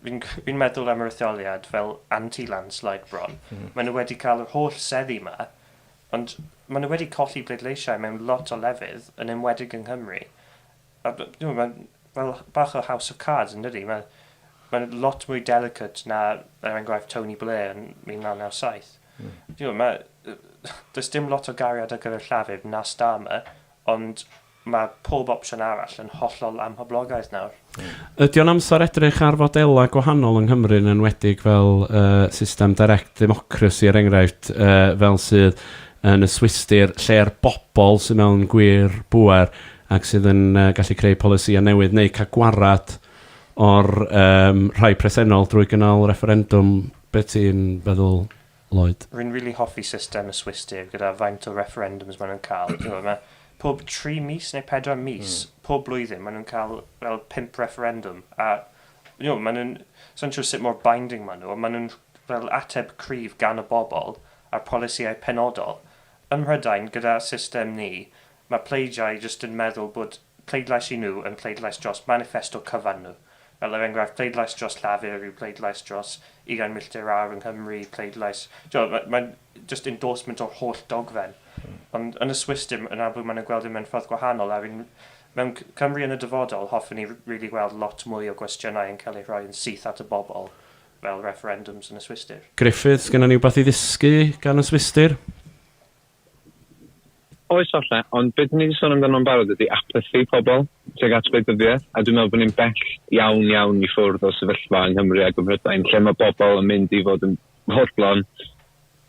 fi'n c- fi'n meddwl am yr etholiad fel anti-landslide bron. Maen nhw wedi cael yr holl seddi 'ma, ond maen nhw wedi colli pleidleisiau mewn lot o lefydd, yn enwedig yng Nghymru. A b- dwi'n gwybod, mae'n fel h- bach o house of cards yn dydi? Mae mae'n lot mwy delicate na, er enghraifft, Tony Blair yn 1997. Dwi'n gwybod, mae yy does dim lot o gariad ar gyfer Llafur na Starmer, Ond mae pob opsiwn arall yn hollol amhoblogaidd nawr. Ydy o'n amser edrych ar fodelau gwahanol yng Nghymru yn enwedig fel yy system direct democracy er enghraifft yy fel sydd yn y Swistir lle'r bobl sydd mewn gwir bŵer ac sydd yn yy gallu creu polisïau newydd neu cael gwared o'r yym rhai presennol drwy gynnal refferendwm be ti'n feddwl Lloyd. Rwy'n rili hoffi system y Swiss Deg gyda faint o referendums maen nhw'n cael. Ti'n gwybod, mae pob tri mis neu pedwar mis, pob blwyddyn, maen nhw'n cael fel pump referendum. A, ti'n gwybod, maen nhw'n... sa i'n siŵr sut mor binding maen nhw, ond maen nhw'n fel ateb cryf gan y bobl ar polisïau penodol. Ym Mhrydain, gyda system ni, mae pleidiau jyst yn meddwl bod pleidlais i nhw yn pleidlais dros maniffesto cyfan nhw, fel er enghraifft pleidlais dros Llafur yw pleidlais dros ugain milltir awr yng Nghymru, pleidlais, tibod, mae, mae'n jyst endorsement o'r holl dogfen. Ond yn y Swiss dim, yn amlwg maen nhw'n gweld e mewn ffordd gwahanol, a'r un, mewn Cymru yn y dyfodol, hoffen ni rili weld lot mwy o gwestiynau yn cael eu rhoi yn syth at y bobl, fel referendums yn y Swistir. Griffith, sgenna ni wbath i ddysgu gan y Swistir? Oes falle, ond be dyn ni 'di sôn amdano'n barod ydi apathy pobl tuag at wleidyddiaeth, a dwi'n meddwl bod ni'n bell iawn iawn i ffwrdd o sefyllfa yng Nghymru ac ym Mhrydain lle mae bobl yn mynd i fod yn fodlon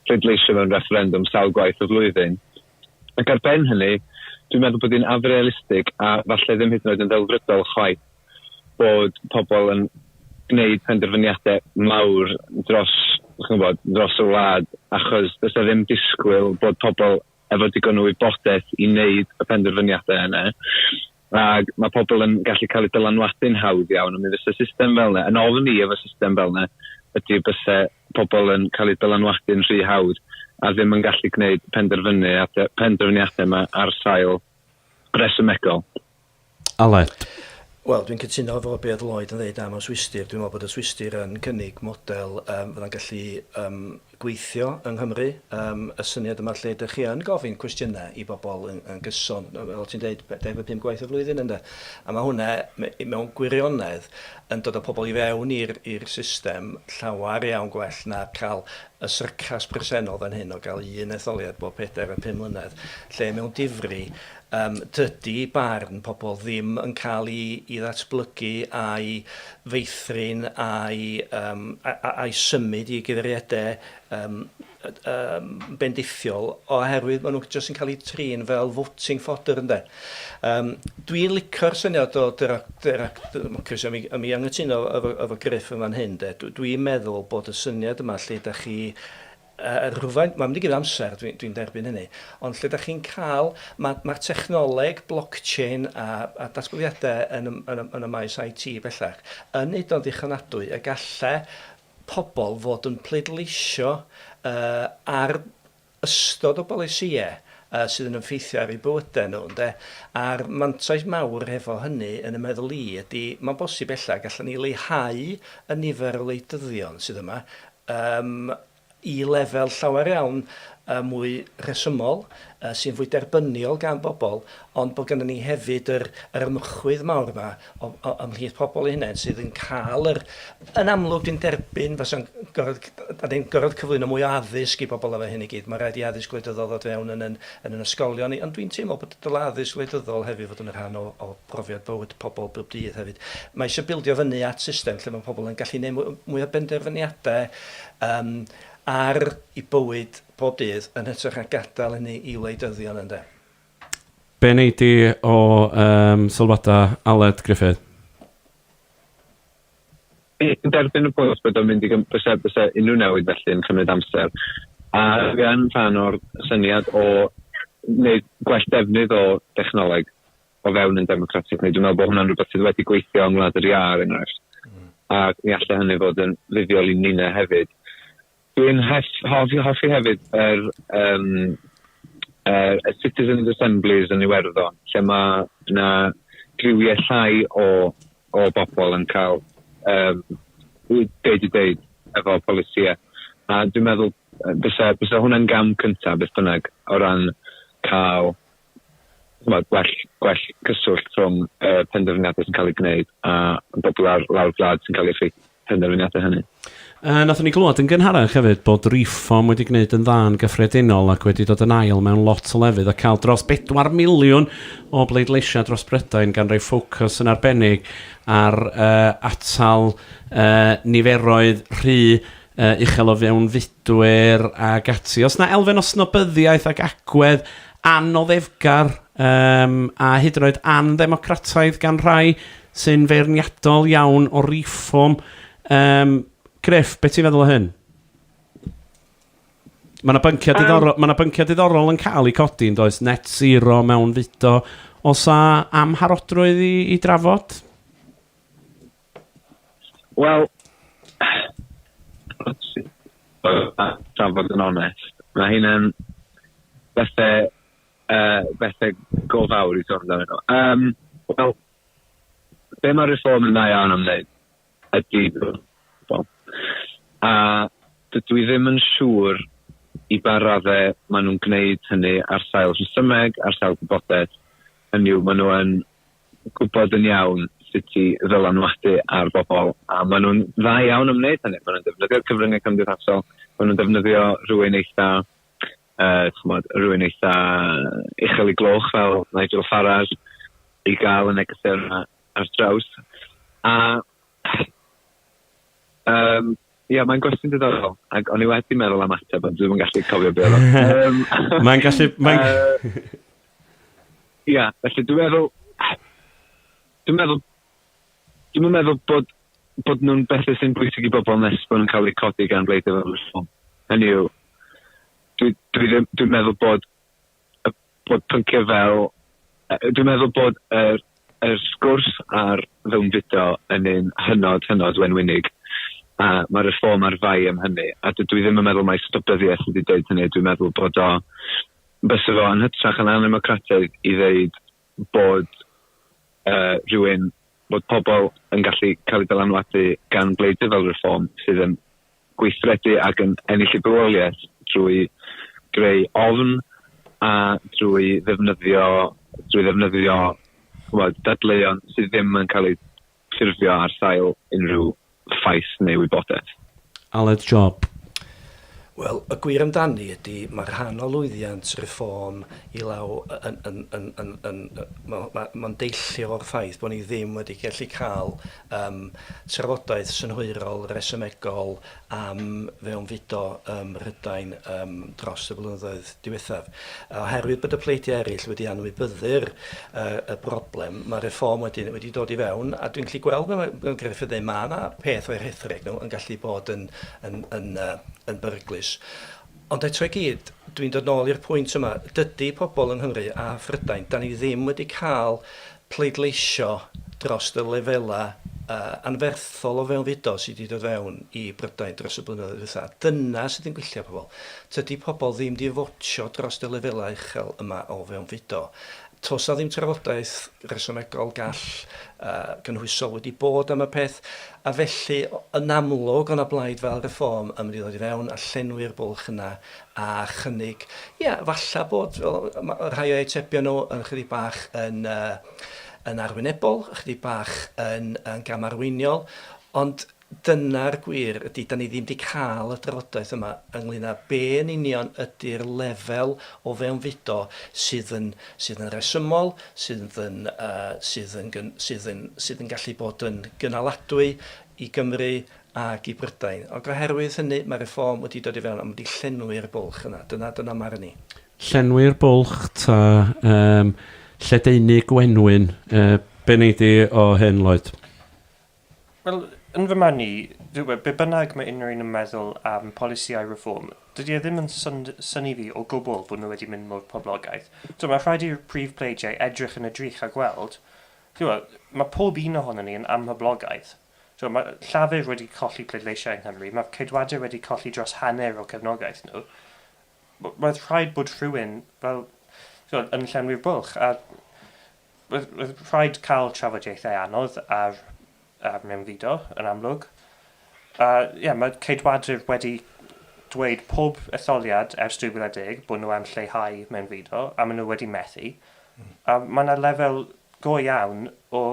pleidleisio mewn refferendwm sawl gwaith y flwyddyn. Ac ar ben hynny, dwi'n meddwl bod hi'n afrealistig a falle ddim hyd yn oed yn ddelfrydol chwaith. bod pobl yn gwneud penderfyniadau mawr dros, chi'n gwybod, dros y wlad, achos does e ddim disgwyl bod pobl efo digon o wybodaeth i wneud y penderfyniadau yna. Ac mae pobl yn gallu cael eu dylanwadu'n hawdd iawn, ond mi fysa system fel yna, yn ofn i efo system fel yna, ydy bysa pobl yn cael eu dylanwadu'n rhy hawdd a ddim yn gallu gwneud penderfyniadau, penderfyniadau yma ar sail resymegol. Aled. Wel, dwi'n cytuno efo be oedd Lloyd yn ddeud am y Swistir. Dwi'n meddwl bod y Swistir yn cynnig model um, fydda'n gallu um, gweithio yng Nghymru. Um, y syniad yma lle ydych chi yn gofyn cwestiynau i bobl yn, yn gyson, fel ti'n dweud, 25 gwaith y flwyddyn ynddo. A mae hwnna mewn gwirionedd yn dod o pobl i fewn i'r system llawer iawn gwell na cael y syrcas presennol fan hyn o gael un etholiad bob pedair a pum mlynedd, lle mewn difri Yym, dydy barn pobl ddim yn cael ei ei ddatblygu a'i feithrin a'i yym a- a- a'i symud i gyfeiriadau yym yym bendithiol oherwydd maen nhw jyst yn cael eu trin fel voting fodder ynde? Yym, dwi'n licio'r syniad o dera- dera- democracy a mi a mi anghytuno efo efo Gruff yn fan hyn de, dw- dwi'n meddwl bod y syniad yma lle dach chi Yy rhywfaint, mae'n mynd i gymryd amser, dwi, dwi'n derbyn hynny, ond lle dach chi'n cael, ma, ma'r technoleg blockchain a, a datblygiadau yn y, yn y, yn y maes IT bellach yn neud o'n ddichonadwy y galle pobl fod yn pleidleisio yy ar ystod o bolisïau yy sydd yn ymffeithio ar eu bywydau nhw, ynde. A'r mantais mawr hefo hynny, yn y meddwl i, ydy, mae'n bosib ella, gallen ni leihau y nifer o wleidyddion sydd yma, yym i lefel llawer iawn yy mwy rhesymol, yy sy'n fwy derbyniol gan bobl, ond bod gynnon ni hefyd yr yr ymchwydd mawr 'ma o- o- ymhlith pobl eu hunain sydd yn ca'l yr... Yn amlwg dwi'n derbyn fasa'n gorod c- d- 'dan ni'n gorod cyflwyno mwy o addysg i bobl efo hyn i gyd ma' raid i addysg wleidyddol ddod fewn yn yn yn 'yn ysgolion ni ond dwi'n teimlo bod dyle addysg wleidyddol hefyd fod yn y rhan o o profiad bywyd pobl bob dydd hefyd. Mae eisiau bildio fyny at system lle mae pobl yn gallu gwneud mwy, mwy o benderfyniadau um, ar i bywyd bob dydd yn hytrach na gadael hynny i wleidyddion ynddo. Be wneud di o um, sylwadau Aled Griffith? Yn derbyn y pwynt bod o'n mynd i gymryd bysa unrhyw newid felly yn cymryd amser. A gan rhan o'r syniad o wneud gwell defnydd o dechnoleg o fewn yn democratic, neu dwi'n meddwl bod hwnna'n rhywbeth sydd wedi gweithio yng Ngwlad yr Ia, er enghraifft. Mm. A mi allai hynny fod yn fuddiol i Nina hefyd. Dwi'n hoffi, hoffi hefyd yr, um, er, y Citizens Assemblies yn Iwerddon, lle mae yna driwiau llai o, o bobl yn cael um, deud i deud efo polisiau. A dwi'n meddwl, bysa, bysa hwnna'n gam cyntaf, beth bynnag, o ran cael ch'mod gwell gwell cyswllt rhwng y uh, penderfyniadau sy'n cael eu gwneud a bobl ar lawr gwlad sy'n cael eu effeithio penderfyniadau hynny. Uh, nathon ni glywed yn gynharach hefyd bod Reform wedi gwneud yn dda yn gyffredinol ac wedi dod yn ail mewn lot o lefydd a cael dros 4 miliwn o bleidleisiau dros Brydain gan roi ffocws yn arbennig ar uh, atal uh, niferoedd rhy uh, uchel o fewnfudwyr ac ati. Os na elfen o snobyddiaeth ac agwedd anoddefgar um, a hyd yn oed andemocrataidd gan rhai sy'n feirniadol iawn o reform. Um, Griff, beth ti'n feddwl o hyn? Mae yna bynciau, diddorol, um, mae bynciau diddorol yn cael eu codi yn does net zero mewn fudo. Os a amharodrwydd i, i drafod? Wel, tra fod yn onest, mae hynna'n bethe, uh, bethe go fawr i sôn amdano nhw. Um, Wel, be mae reform yn dda iawn am wneud ydy bobl. A dydw i ddim yn siŵr i ba raddau maen nhw'n gwneud hynny ar sail rhesymeg, ar sail gwybodaeth, hynny yw maen nhw yn gwybod yn iawn sut i ddylanwadu ar bobl, a maen nhw'n dda iawn yn wneud hynny. Maen nhw'n defnyddio'r cyfryngau cymdeithasol, maen nhw'n defnyddio rhywun eitha, uh, chymod, rhywun eitha uchel i gloch fel Nigel Farage i gael y negeseuon yma ar draws. A um, Ia, mae'n gwestiwn diddorol, ac o'n i wedi meddwl am ateb, ond dwi'n gallu cofio beth oedd. mae'n gallu... Mae'n... Ia, felly dwi'n meddwl... Dwi'n meddwl... Dwi'n meddwl bod, bod nhw'n bethau sy'n bwysig i bobl nes bod nhw'n cael eu codi gan bleid efo ffôn. Hynny yw, dwi'n dwi dwi meddwl bod y bod pynciau fel yy dwi'n meddwl bod yr yr sgwrs ar fewnfudo yn un hynod hynod wenwynig a ma' Reform ar fai am hynny a dydw i ddim yn meddwl mai stopyddiaeth ydi deud hynny dwi'n meddwl bod o bysa fo yn hytrach yn anymocrataidd i ddeud bod rhywun, bod pobl yn gallu cael eu dylanwadu gan bleidwyr fel Reform sydd yn gweithredu ac yn ennill y bywoliaeth drwy greu ofn a drwy ddefnyddio, drwy ddefnyddio chwbod, dadleuon sydd ddim yn cael eu ffurfio ar sail unrhyw ffaith neu wybodaeth. Aled Job. Wel, y gwir amdani ydi, mae rhan o lwyddiant Reform i law yn, yn, yn, yn, yn, mae'n ma, ma deillio o'r ffaith bod ni ddim wedi gallu cael um, trafodaeth synhwyrol, resymegol, am fewnfudo ym Mhrydain yym dros y blynyddoedd diwethaf. A oherwydd bod y pleidiau eraill wedi anwybyddu'r yy y broblem, mae Reform wedi wedi dod i fewn, a dwi'n gallu gweld fel mae Gruffydd yn dweud, mae yna peth o'i rhethreg nhw yn gallu bod yn yn yn yy yn beryglus. Ond eto i gyd, dwi'n dod nôl i'r pwynt yma, dydy pobl yng Nghymru a Phrydain, 'dan ni ddim wedi cael pleidleisio dros y lefelau anferthol o fewnfudo sydd wedi dod fewn i Brydain dros y blynyddoedd ddiwetha'. Dyna sydd yn gwylltio pobl. Tydy pobl ddim wedi fotio dros y lefelau uchel yma o fewnfudo. Toes 'na ddim trafodaeth resymegol gall gynhwysol wedi bod am y peth, a felly, yn amlwg, o' 'na blaid fel Reform yn mynd i ddod i fewn a llenwi'r bwlch yna a chynnig, ia, falla bod rhai o'u atebion nhw yn chydig bach yn yy yn arwynebol, chydig bach yn gamarweiniol, ond, Dyna'r gwir, ydy, 'dan ni ddim 'di cael y drafodaeth yma ynglŷn â be yn union ydy'r lefel o fewnfudo sydd yn sydd yn resymol, sydd yn sydd yn sydd yn sydd yn gallu bod yn gynaladwy i Gymru ac i Brydain. Ac oherwydd hynny, mae Reform wedi dod i fewn a ma' 'di llenwi'r bwlch yna. Dyna dyna marn i. Llenwi'r bwlch ta yym lledaenu gwenwyn? Yy be wnei di o hyn, Lloyd? Wel, yn fy marn i, dywed, be bynnag mae unrhyw un yn meddwl am polisïau Reform, dydy e ddim yn synnu fi o gwbl bod nhw wedi mynd mor poblogaidd. Tibod, mae rhaid i'r prif pleidiau edrych yn y drych a gweld, tibod, mae pob un ohonon ni yn amhoblogaidd. Tibod, mae Llafur wedi colli pleidleisiau yng Nghymru, mae Ceidwadwyr wedi colli dros hanner o cefnogaeth nhw. Roedd rhaid bod rhywun, fel, tibod, yn llenwi'r bwlch, a Roedd rhaid cael trafodaethau anodd ar mewnfudo, yn amlwg. A ie, mae Ceidwadwyr wedi dweud pob etholiad ers 2010 bod nhw am lleihau mewnfudo, a maen nhw wedi methu. A mae yna lefel go iawn o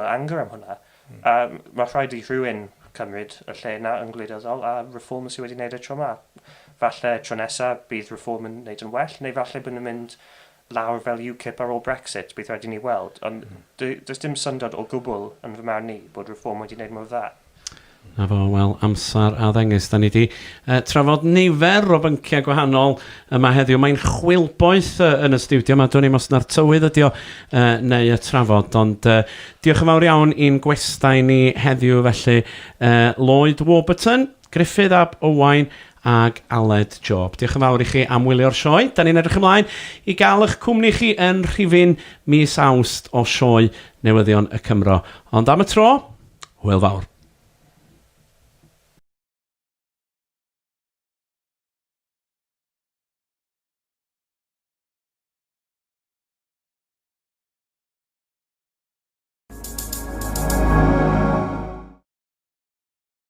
anger am hwnna. A mae rhaid i rhywun cymryd y lle yna yn gwleidyddol, a Reform sydd wedi gwneud y tro yma. Falle tro nesaf bydd Reform yn gwneud yn well, neu falle bod nhw'n mynd lawr fel UKIP ar ôl Brexit, bydd rhaid i ni weld, ond does dim syndod o gwbl, yn fy marn i, bod Reform wedi wneud mor dda. Na fo, wel, amser a ddengys, da ni di trafod nifer o bynciau gwahanol yma heddiw, mae'n chwilboeth yn y stiwdio yma, dwn i'm os na'r tywydd ydi o neu y trafod, ond diolch yn fawr iawn i'n gwestai ni heddiw felly, Lloyd Warburton. Gruffydd ab Owain ag Aled Job. Diolch yn fawr i chi am wylio'r sioe. Da ni'n edrych ymlaen i gael eich cwmni chi yn rhifyn mis Awst o sioe newyddion y Cymro. Ond am y tro, hwyl fawr.